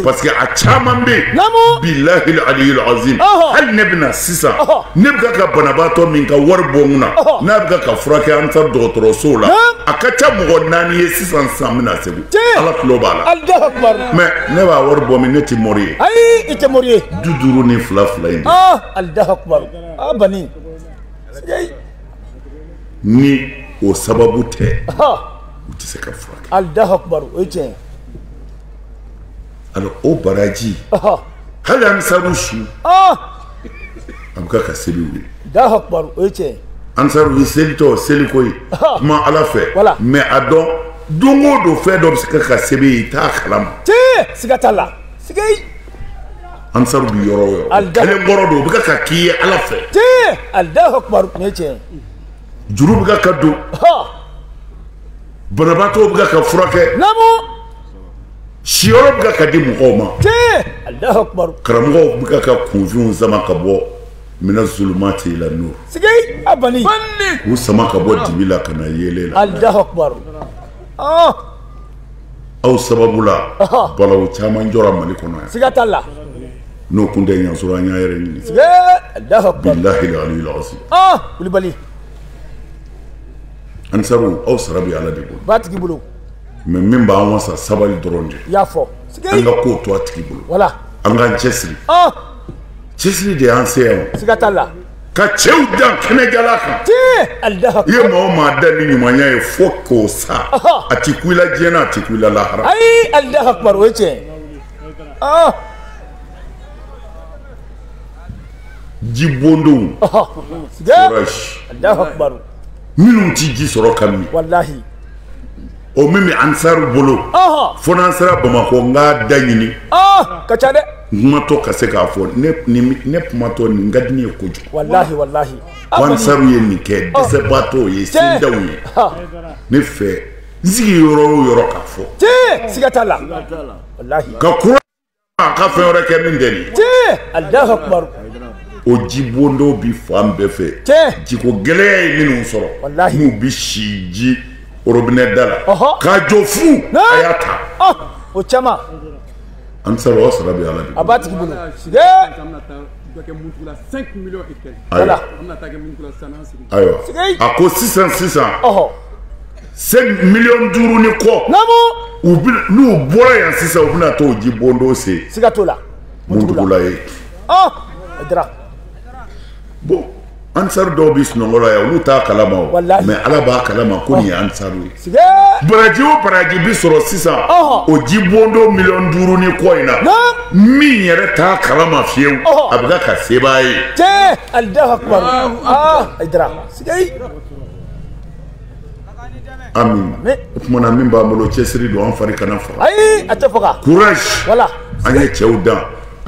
parce que a caman bɛ yen bilahi aliyul azim hali ne bɛna sisan ne bɛ ka banabaatɔ min ka wari bɔ n kunna n'a bɛ ka furakɛ ansar dɔgɔtɔrɔsow la a ka ca mɔgɔ naani ye sisan sisan in na segu ala tulo b'a la mais ne b'a wari bɔ min ne tɛ mori ye ayi i tɛ mori ye duuru duuru ni fila fila in de Alahu akibaru a bani ni o sababu tɛ u tɛ se ka furakɛ alahu akubaru o ye tiɲɛ ye alors o baraji hali ansaru su a bɛ ka sɛbɛn u ye alahu akubaru o ye tiɲɛ ye ansaru i selitɔ seli ko ye kuma ala fɛ mais a dɔn don o don fɛn dɔ bɛ se ka ka sɛbɛn i ye i t'a kalama tiɲɛ siga t'a la siga ansaru bi yɔrɔ o yɔrɔ kelen kɔrɔ don u bɛ ka k'i ye ala fɛ tiɲɛ alahu akubaru nin ye tiɲɛ juru bɛ ka don banabaatɔw bɛ ka furakɛ namu siyɔrɔ bɛ ka di mɔgɔw ma tiɲɛ alahu akubaru karamɔgɔw bɛ ka kunfinw sama ka bɔ mina zulumati ila nuru sigi a bani k'u sama ka bɔ dibi la ka na yeelen la alahu akubaru aw sababu la balawu caman jɔra mali kɔnɔ yan siga t'a la n'o kun tɛ y'an sɔrɔ an y'a yɛrɛ ɲini bilahi aliyil azim kulubali ansaru aw sara bɛ ala de bolo b'a tigi bolo mais min b'an wasa sabali dɔrɔn de i y'a fɔ an ka ko to a tigi bolo voilà an k'an cɛsiri cɛsiri de y'an se yan siga t'a la ka cɛw dan kɛnɛjala kan i ye maa o maa dan ni ɲumanya ye fo k'o sa a ti kun i la diɲɛ na a ti kun i la lahara ayi alahu akubaru o ye tiɲɛ ah. ji bondonw forage minnu ti ji sɔrɔ ka min walahi O min bɛ ansaru bolo fo n'an sera bamakɔ n k'a da ɲini ka ca dɛ n kumatɔ ka se k'a fɔ ne kumatɔ nin ka di ne ye kojugu walahi walahi ko ansaru ye nin kɛ dɛsɛbaatɔw ye sendaw ye ne fɛ n sigi yɔrɔ o yɔrɔ k'a fɔ siga t'a la walahi ka a ka fɛn wɛrɛ kɛ min tɛ nin ye Alahu akubaru o jibondonw bi fan bɛɛ fɛ Tiɲɛ. jiko gɛlɛya ye minnu sɔrɔ Walahi. n'u bi si ji orobinɛ da la Ɔhɔ. k'a jɔ fu Naa. a y'a ta Ɔ, o caman ansaru aw sara bɛ ala de a b'a tigi bolo Ee, an bɛna taa dɔ kɛ muntugula 5 millions et quelques ayiwa an bɛna taa kɛ muntugula san an sigi ayiwa Sigi. a ko sisan sisan Ɔhɔ. cinq miliyɔn duuru ni kɔ n'u bɔra yan sisan u bɛna t'o ji bondon se siga t'o la muntugula ye ayidara bon ansaru dɔw bɛ sunɔgɔ la yan olu t'a kalama o mais ala b'a kalama ko nin ye ansaru ye baraji o baraji bɛ sɔrɔ sisan o ji bondon miliyɔn duuru ni kɔ in na min yɛrɛ t'a kalama fiyewu a bɛ ka ka sɛbɛn a ye. tiɲɛ alahu akubaru ayidara siga ye. o tuma na min b'an bolo cɛsiri don an fari kana faga ayi a tɛ faga voilà an ye cɛw dan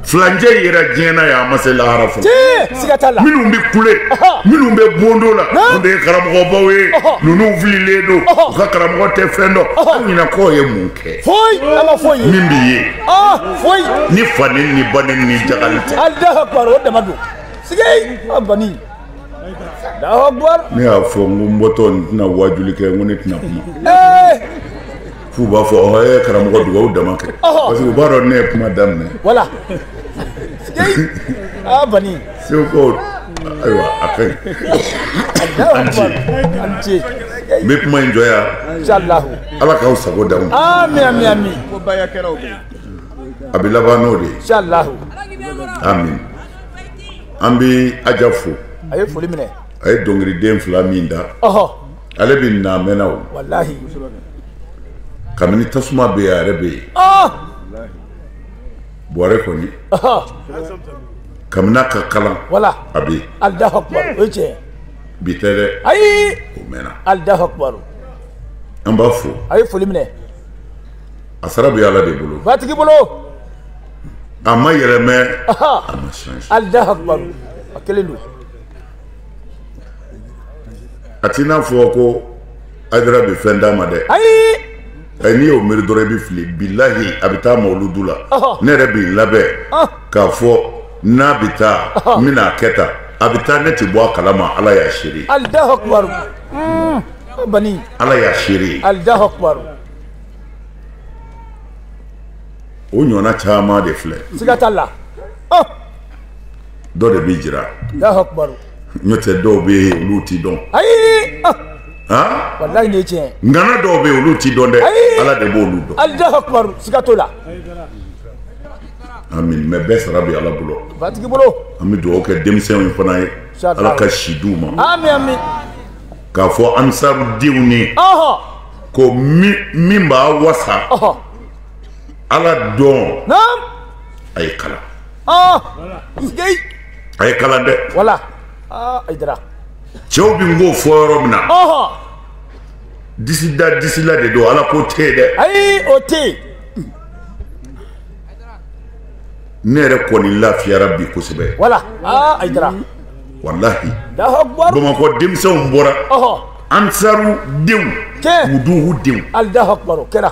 filacɛ yira diɲɛ na yan an ma se lahara fɔlɔ minnu bɛ kule minnu bɛ bondo la o de ye karamɔgɔbaw ye ninnu fililen don u ka karamɔgɔ tɛ fɛn dɔn an ɲɛnakɔ ye mun kɛ min bɛ ye ni fa ni ba ni ni ja tɛ ne y'a fɔ n ko n bɔtɔ n tɛna waajuli kɛ n ko ne tɛna kuma f'u b'a fɔ ɔ e karamɔgɔ dugawu dama kɛ parce que u b'a dɔn ne ye kuma daminɛ segukaw ayiwa a ka ɲi an ce n bɛ kuma in jɔ yan ala k'aw sago d'aw ma a bɛ laban n'o de ye amin an bɛ aja fo a ye foli minɛ a ye dɔnkiliden fila min da ale bɛ na mɛnna o walahi kabini tasuma bɛ yen a yɛrɛ bɛ yen buwarɛ kɔni kabini a ka kalan a bɛ yen allahu akbar bi tɛ dɛ ayi o mɛnna allahu akbar an b'a fo a ye foli minɛ a sara bɛ ala de bolo batigi bolo a ma yɛlɛmɛ a ma change allahu akbar a kelen don a t'i n'a fɔ ko haidara bɛ fɛn d'a ma dɛ ayi ɛ n'i y'o miiri dɔrɔn i bɛ fili bilahi a bɛ taa mawuludu la ne yɛrɛ bɛ n labɛn k'a fɔ n'a bɛ taa n bɛna a kɛ tan a bɛ taa ne tɛ bɔ a kalama ala y'a seere allahu akbar bani ala y'a seere allahu akbar o ɲɔgɔnna caman de filɛ siga t'a la dɔ de bɛ jira n'o tɛ dɔw bɛ yen olu tɛ dɔn ayi walayi nin ye tiɲɛ ngana dɔw bɛ yen olu tɛ dɔn dɛ ala de b'olu dɔn allahu akbar siga t'o la amin mais bɛɛ sara bɛ ala bolo batigi bolo an bɛ dugawu kɛ denmisɛnw fana ye ala ka si d'u ma amin amin k'a fɔ ansarudenw ni ko min b'a wasa ala dɔn a ye kalan a ye kalan dɛ haidara cɛw bɛ n k'o fɔ yɔrɔ min na disi da disi la de don ala ko tɛ yen dɛ ayi o tɛ yen ne yɛrɛ kɔni lafiyara bi kosɛbɛ wala haidara walahi bamakɔ denmisɛnw bɔra ansaru denw maduhu denw allahu akbar o kɛra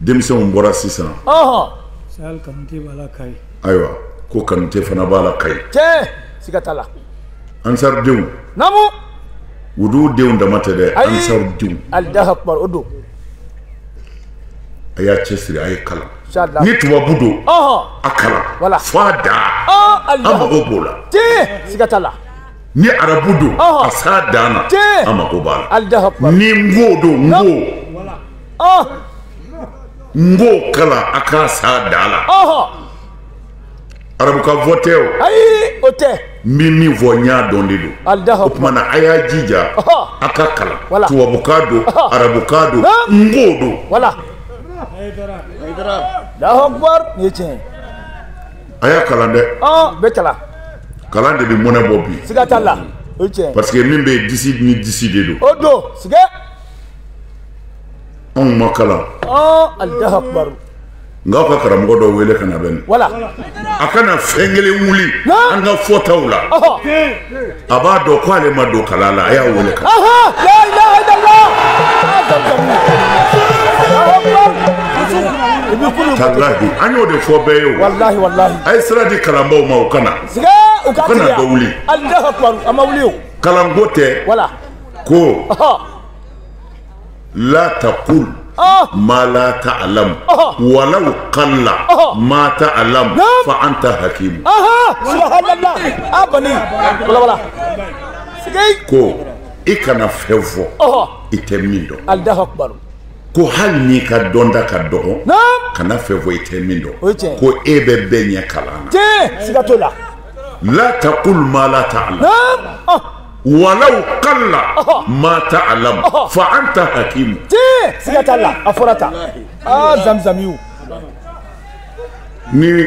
denmisɛnw bɔra sisan ayiwa ko kanute fana b'a la kayi siga t'a la ansaridenw naamu wuduw denw dama tɛ dɛ ansaridenw a y'a cɛsiri a ye kalan ni tubabu don a kalan fo a dan an mago b'o la ni arabu don a s'a dan na an mako b'a la ni nko don nko nko kalan a k'a s'a dan la arabu ka fɔ tɛ o ayi o tɛ n bɛ min fɔ n y'a dɔn de don o tuma na a y'a jija a ka kalan tubabukan don arabukan don nko don. Allahu Akbar nin ye tiɲɛ ye. a y'a kalan dɛ bɛɛ kalan kalan de bɛ mɔnɛ bɔ bi siga t'a la o ye tiɲɛ parce que min bɛ disi ni disi de don o don siga anw ma kalan Allahu Akbar nka aw ka karamɔgɔ dɔ wele ka na bɛ nin voilà a kana fɛn kelen wuli an ka fɔtaw la a b'a dɔn ko ale ma don kalan na a y'a wele ka tallahi an y'o de fɔ bɛɛ ye o a ye sira di kalanbaaw ma u kana u kana dɔ wuli kalanko tɛ ko la taqul ma la ta'lam walaw qalla ma ta'lam fa anta hakim ko i kana fɛn fɔ i tɛ min dɔn ko hali n'i ka dɔnta ka dɔgɔ kana fɛn fɔ i tɛ min dɔn ko e bɛ bɛɛ ɲɛ kalan na la taqul ma la ta'lam Walaw qalla ma ta'lam fa anta hakimu siga t'a la a fɔra tan aa zamzami ni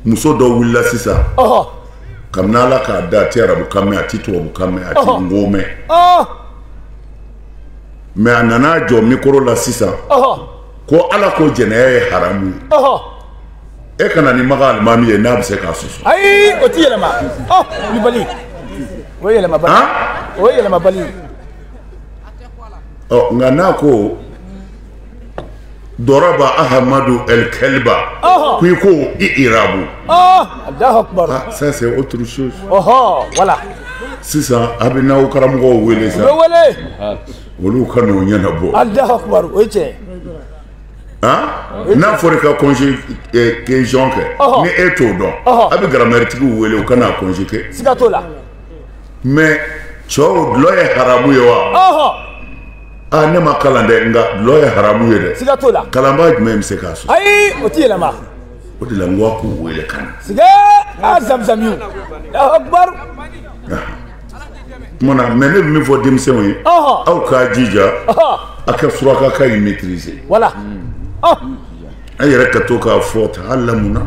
muso dɔ wulila sisan kabini ala k'a da a tɛ arabukan mɛn a tɛ tubabukan mɛn a tɛ nko mɛn mɛ a nana jɔ mikoro la sisan ko ala ko jɛnɛya ye haramu ye e ka na ni maka alimami ye n'a bɛ se k'a sɔsɔ ayi o ti yɛlɛma ɔ kulubali o ye yɛlɛmabali o ye yɛlɛmabali ɔ nka n'a ko daraba ahamadu al-kalba ko i k'o i'rabu ça c'est autre chose ɔhɔ voilà sisan a bɛn'aw karamɔgɔw wele sisan u bɛ wele olu ka n'o ɲɛnabɔ alahu akubaru o ye tiɲɛ ye n'a fɔra i ka conjugaison kɛ ni e t'o dɔn a bɛ garamɛritigiw wele u ka n'a conjuguer siga t'o la mais cɛw dulɔ ye haramu ye wa aa ne ma kalan dɛ nka dulɔ ye haramu ye dɛ siga t'o la kalanbaa jumɛn bɛ se k'a sɔsɔ ayi o tɛ yɛlɛma o de la n ko a k'u wele ka na siga a zamzamiw alahu akubaru Tuma mɛ ne min fɔ denmisɛnw ye aw k'a jija a ka surakakan in maîtriser voilà an yɛrɛ ka to k'a fɔ ta'allamuna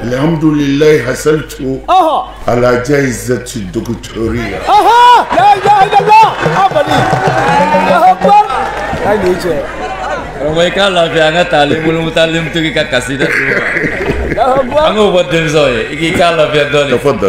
alihamdulilayi hasali cogo alaja zti dugu cɛ ye cɛ k'a lafi an ka taa bolo taa to ka kasi dɛ an b'o bɔ denmisɛnw ye i k'i k'a lafiya dɔn fɔ da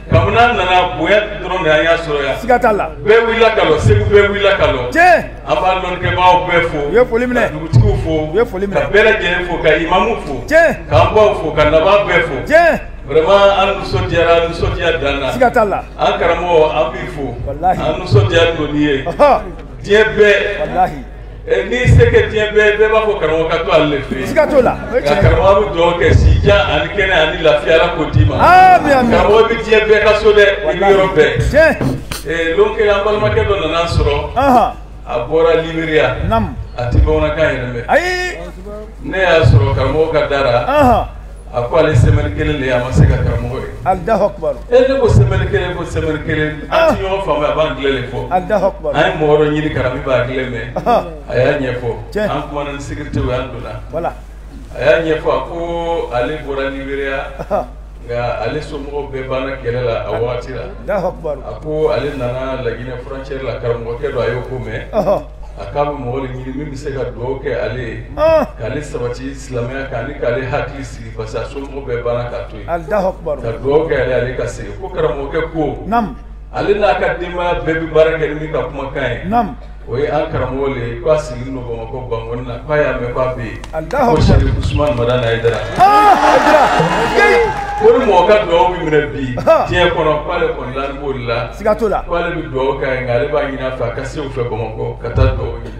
kabini an nana bonya dɔrɔn de an y'a sɔrɔ yan siga t'a la bɛɛ wulila ka lɔ segu bɛɛ wulila ka lɔ tiɲɛ an b'a lɔnnikɛbaaw bɛɛ fo u ye foli minɛ ka dugutigiw fo u ye foli minɛ ka bɛɛ lajɛlen fo ka imamu fo tiɲɛ k'an baw fo ka nabaa bɛɛ fo tiɲɛ vraiment an nisɔndiyara an nisɔndiya dan na siga t'a la an karamɔgɔ an b'i fo an nisɔndiya don n'i ye diɲɛ bɛɛ Eh, n'i se kɛ diɲɛ bɛɛ bɛɛ b'a fɔ karamɔgɔ ka to ale de fɛ yen siga t'o la o ye nka tiɲɛ ye karamɔgɔ bɛ dugawu kɛ sijan ani kɛnɛ ani lafiya ala k'o d'i ma Ami, ami. karamɔgɔ bɛ diɲɛ bɛɛ ka so dɛ i bɛ yɔrɔ bɛɛ tiɲɛ Eh, lon kelen an balimakɛ dɔ nana an sɔrɔ ahan a bɔra liberiya nam a tɛ bamanankan yɛrɛ mɛn ayi ne y'a sɔrɔ karamɔgɔ ka da la ahan a ko ale semaine kelen de ye a ma se ka karamɔgɔ ye alahu akubaru e ne ko semaine kelen ko semaine kelen an ti ɲɔgɔn faamuya a b'angilɛ de fɔ alahu akubaru an ye mɔgɔ dɔ ɲini ka na min b'angilɛ mɛn Ahan. a y'a ɲɛfɔ Tiɲɛ. an kumana ni sécurité u y'an donna voilà a y'a ɲɛfɔ a ko ale bɔra liberiya Ahan. nka ale somɔgɔw bɛɛ banna kɛlɛ la a wagati la alahu akubaru a ko ale nana laginɛ frontière la karamɔgɔkɛ dɔ a y'o ko mɛn Ahan. a k'a bɛ mɔgɔ de ɲini min bɛ se ka dugawu kɛ ale ye Ahan. k'ale sabati silamɛya kan ani k'ale hakili sigi parce que a somɔgɔw bɛɛ banna k'a to yen Alahu akibaru ka dugawu kɛ ale ale ka segin ko karamɔgɔkɛ ko Naam ale n'a ka denbaya bɛɛ bɛ baara kɛ ni min ka kumakan ye Naam o ye an karamɔgɔ le ye k'a sigilen don bamakɔ bankɔni na k'a y'a mɛn k'a bɛ yen Alahu ko sarifu usumani madani hayidara Ah Hayidara ko ni mɔgɔ ka dugawu bɛ minɛ bi Ah. diɲɛ kɔnɔ k'ale kɔni laani b'o de la Siga t'o la k'ale bɛ dugawu k'a ye nka ale b'a ɲini a fɛ a ka se u fɛ bamakɔ ka taa dugawu ɲini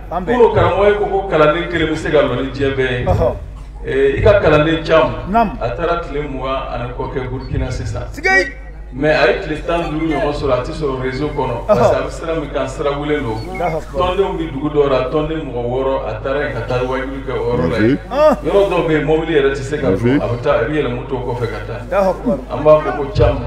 An bɛn. Kunu karamɔgɔ ye ko ko kalanden kelen bɛ se ka lɔ ni diɲɛ bɛɛ ye. Ɔhɔ. Ee, I ka kalanden Cam. Naamu. A taara tile mugan ani kɔ kɛ Burkina sisan. Sigei! Mais a ye tile tan ni duuru ɲɔgɔn sɔrɔ a tɛ sɔrɔ réseau kɔnɔ. Parce que a bɛ sira min kan sira wulen don. Alahu akibaru. Tɔndenw bɛ dugu dɔw la tɔnden mɔgɔ wɔɔrɔ a taara yen ka taa waajuli kɛ o yɔrɔ la yen. An! Yɔrɔ dɔw bɛ yen mɔbili yɛrɛ tɛ se ka don a bɛ taa a bɛ yɛlɛ moto kɔfɛ ka taa. Alahu akibaru. An b'a fɔ ko Cam.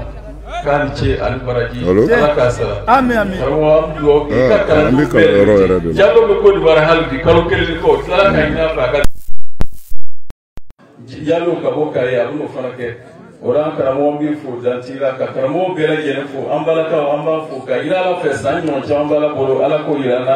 k'a ni ce a ni baraji Alo? ala k'a sara Ami, ami. karamɔgɔ an bɛ dugawu kɛ i ka Ah, kalan an bɛ kalan yɔrɔ yɛrɛ de la. jalo bɛ Côte d'Ivoire hali bi kalo kelen ni kɔ tila ka ɲin'a fɛ a ka jalo ka bɔ kare a bɛn'o fana kɛ o la an karamɔgɔ b'i fo dan t'i la ka karamɔgɔ bɛɛ lajɛlen fo an balakaw an b'a fo ka yira ala fɛ san ɲɔgɔn caman b'ala bolo ala k'o yira an na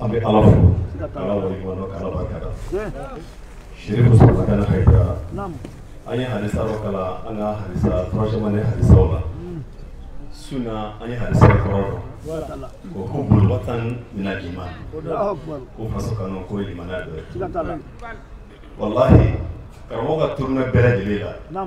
an bɛ ala fo k'ala waleɲuman dɔn k'ala barika da serifu usumani madani hayidara an ye hadisa dɔ kalan an ka hadisa troisième année hadisaw la su na an ye hadisa kɔrɔ dɔn ko ko hubbul watan minal iman ko faso kanu ko ye limaniya dɔ ye walahi karamɔgɔ ka tournée bɛɛ lajɛlen la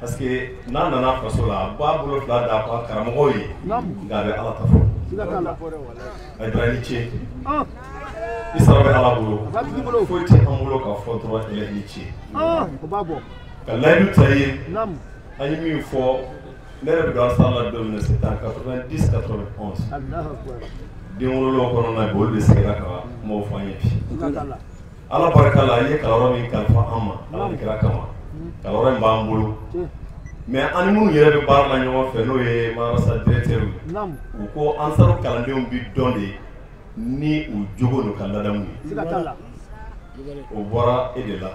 Parce que n'a nana faso la a b'a bolo fila d'a ka karamɔgɔw ye nka a bɛ Ala ta fɔ Hayidara i ni ce i sara bɛ Ala bolo foyi tɛ an bolo ka fɔ dɔrɔn i ni ce ka layidu ta i ye an ye min fɔ ne yɛrɛ bɛ don ansaru la don min na c'est en 90 91 den wolola o kɔnɔna bi olu de sigira ka kumaw fɔ an ye bi ala barika la i ye kalanyɔrɔ min kalifa an ma ala ni kira kama kalanyɔrɔ in b'an bolo mais an ni minnu yɛrɛ bɛ baara la ɲɔgɔn fɛ n'o ye marasa directeur u ko ansaru kalandenw bɛ dɔn de ni u jogo n'u ka ladamu ye o bɔra e de la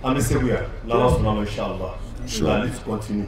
an bɛ segu yan n'ala sɔnna ma inshallah la lutte continue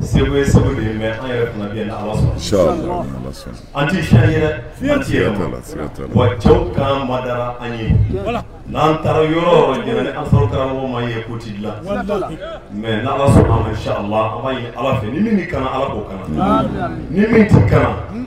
Segu ye segu de ye mais an yɛrɛ fana bɛ yan ni Ala sɔnna. Inshallah. An tɛ siya ye dɛ, an tɛ yɛlɛma. Wa cɛw kan madara an ye. N'an taara yɔrɔ o yɔrɔ diɲɛ na ni Ansaru karamɔgɔ ma ye ko tɛ dilan. Mais n'Ala sɔnna a ma inshallah an b'a ɲini Ala fɛ ni min bɛ kana Ala k'o kana. Ni min tɛ kana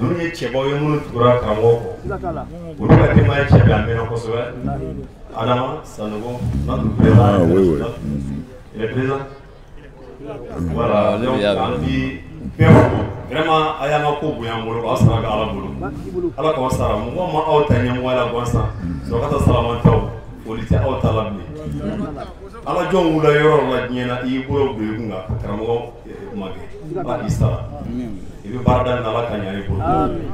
ninnu ye cɛbaw ye minnu tugura karamɔgɔ kɔ olu ka denbaya cɛ bɛ a mɛnna kosɛbɛ adama sanogo nadu bɛɛ il est présent voilà donc an bi bɛɛ fo vraiment a y'an ka ko bonya an bolo k'aw sara bɛ ala bolo ala k'aw sara mɔgɔ ma aw ta ɲɛmɔgɔya la gansan sɔrɔkata salamantaw foli tɛ aw ta la bilen ala jɔn wula yɔrɔ la diɲɛ na i y'i bolo don i kun kan karamɔgɔ kuma kɛ ba i sara i bɛ baara da min na ala k'a ɲa i bolo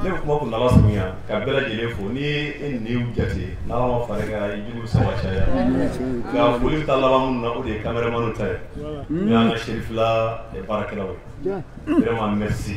ne bɛ kuma kuntaala surunya ka bɛɛ lajɛlen fo n'i ye ninnu jate n'ala ma fara i kan i jugu saba caya nka foli bɛ taa laban minnu na o de ye cameramanw ta ye n'o y'an ka serifila baarakɛlaw ye vraiment merci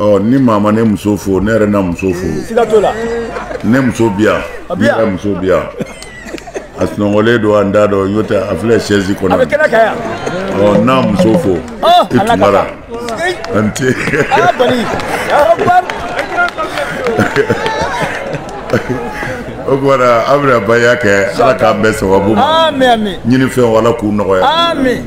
ɔ ni maa ma ne muso fo ne yɛrɛ na muso fo siga t'o la ne muso bi yan ne yɛrɛ muso bi yan a sunɔgɔlen don an da dɔ n'o tɛ a filɛ sɛzi kɔnɔ a bɛ kɛnɛ kan yan ɔ n'a muso fo i tumara a ni ce o kumana an bɛna baya kɛ ala k'an bɛɛ sababu ma ɲini fɛnw ala k'u nɔgɔya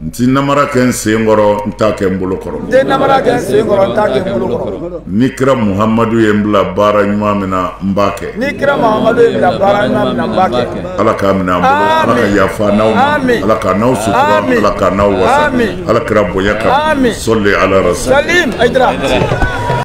n ti namara kɛ n sen kɔrɔ n t'a kɛ n bolo kɔrɔ n tɛ namara kɛ n sen kɔrɔ n t'a kɛ n bolo kɔrɔ ni kira muhamadu ye n bila baara ɲuman min na n b'a kɛ ni kira muhamadu ye n bila baara ɲuman min na n b'a kɛ ala k'a minɛ an bolo ala ka yafa n'aw ma ala ka n'aw sutura ala ka n'aw wasa ala kira bonya kama sɔli ala rasul salim ayidara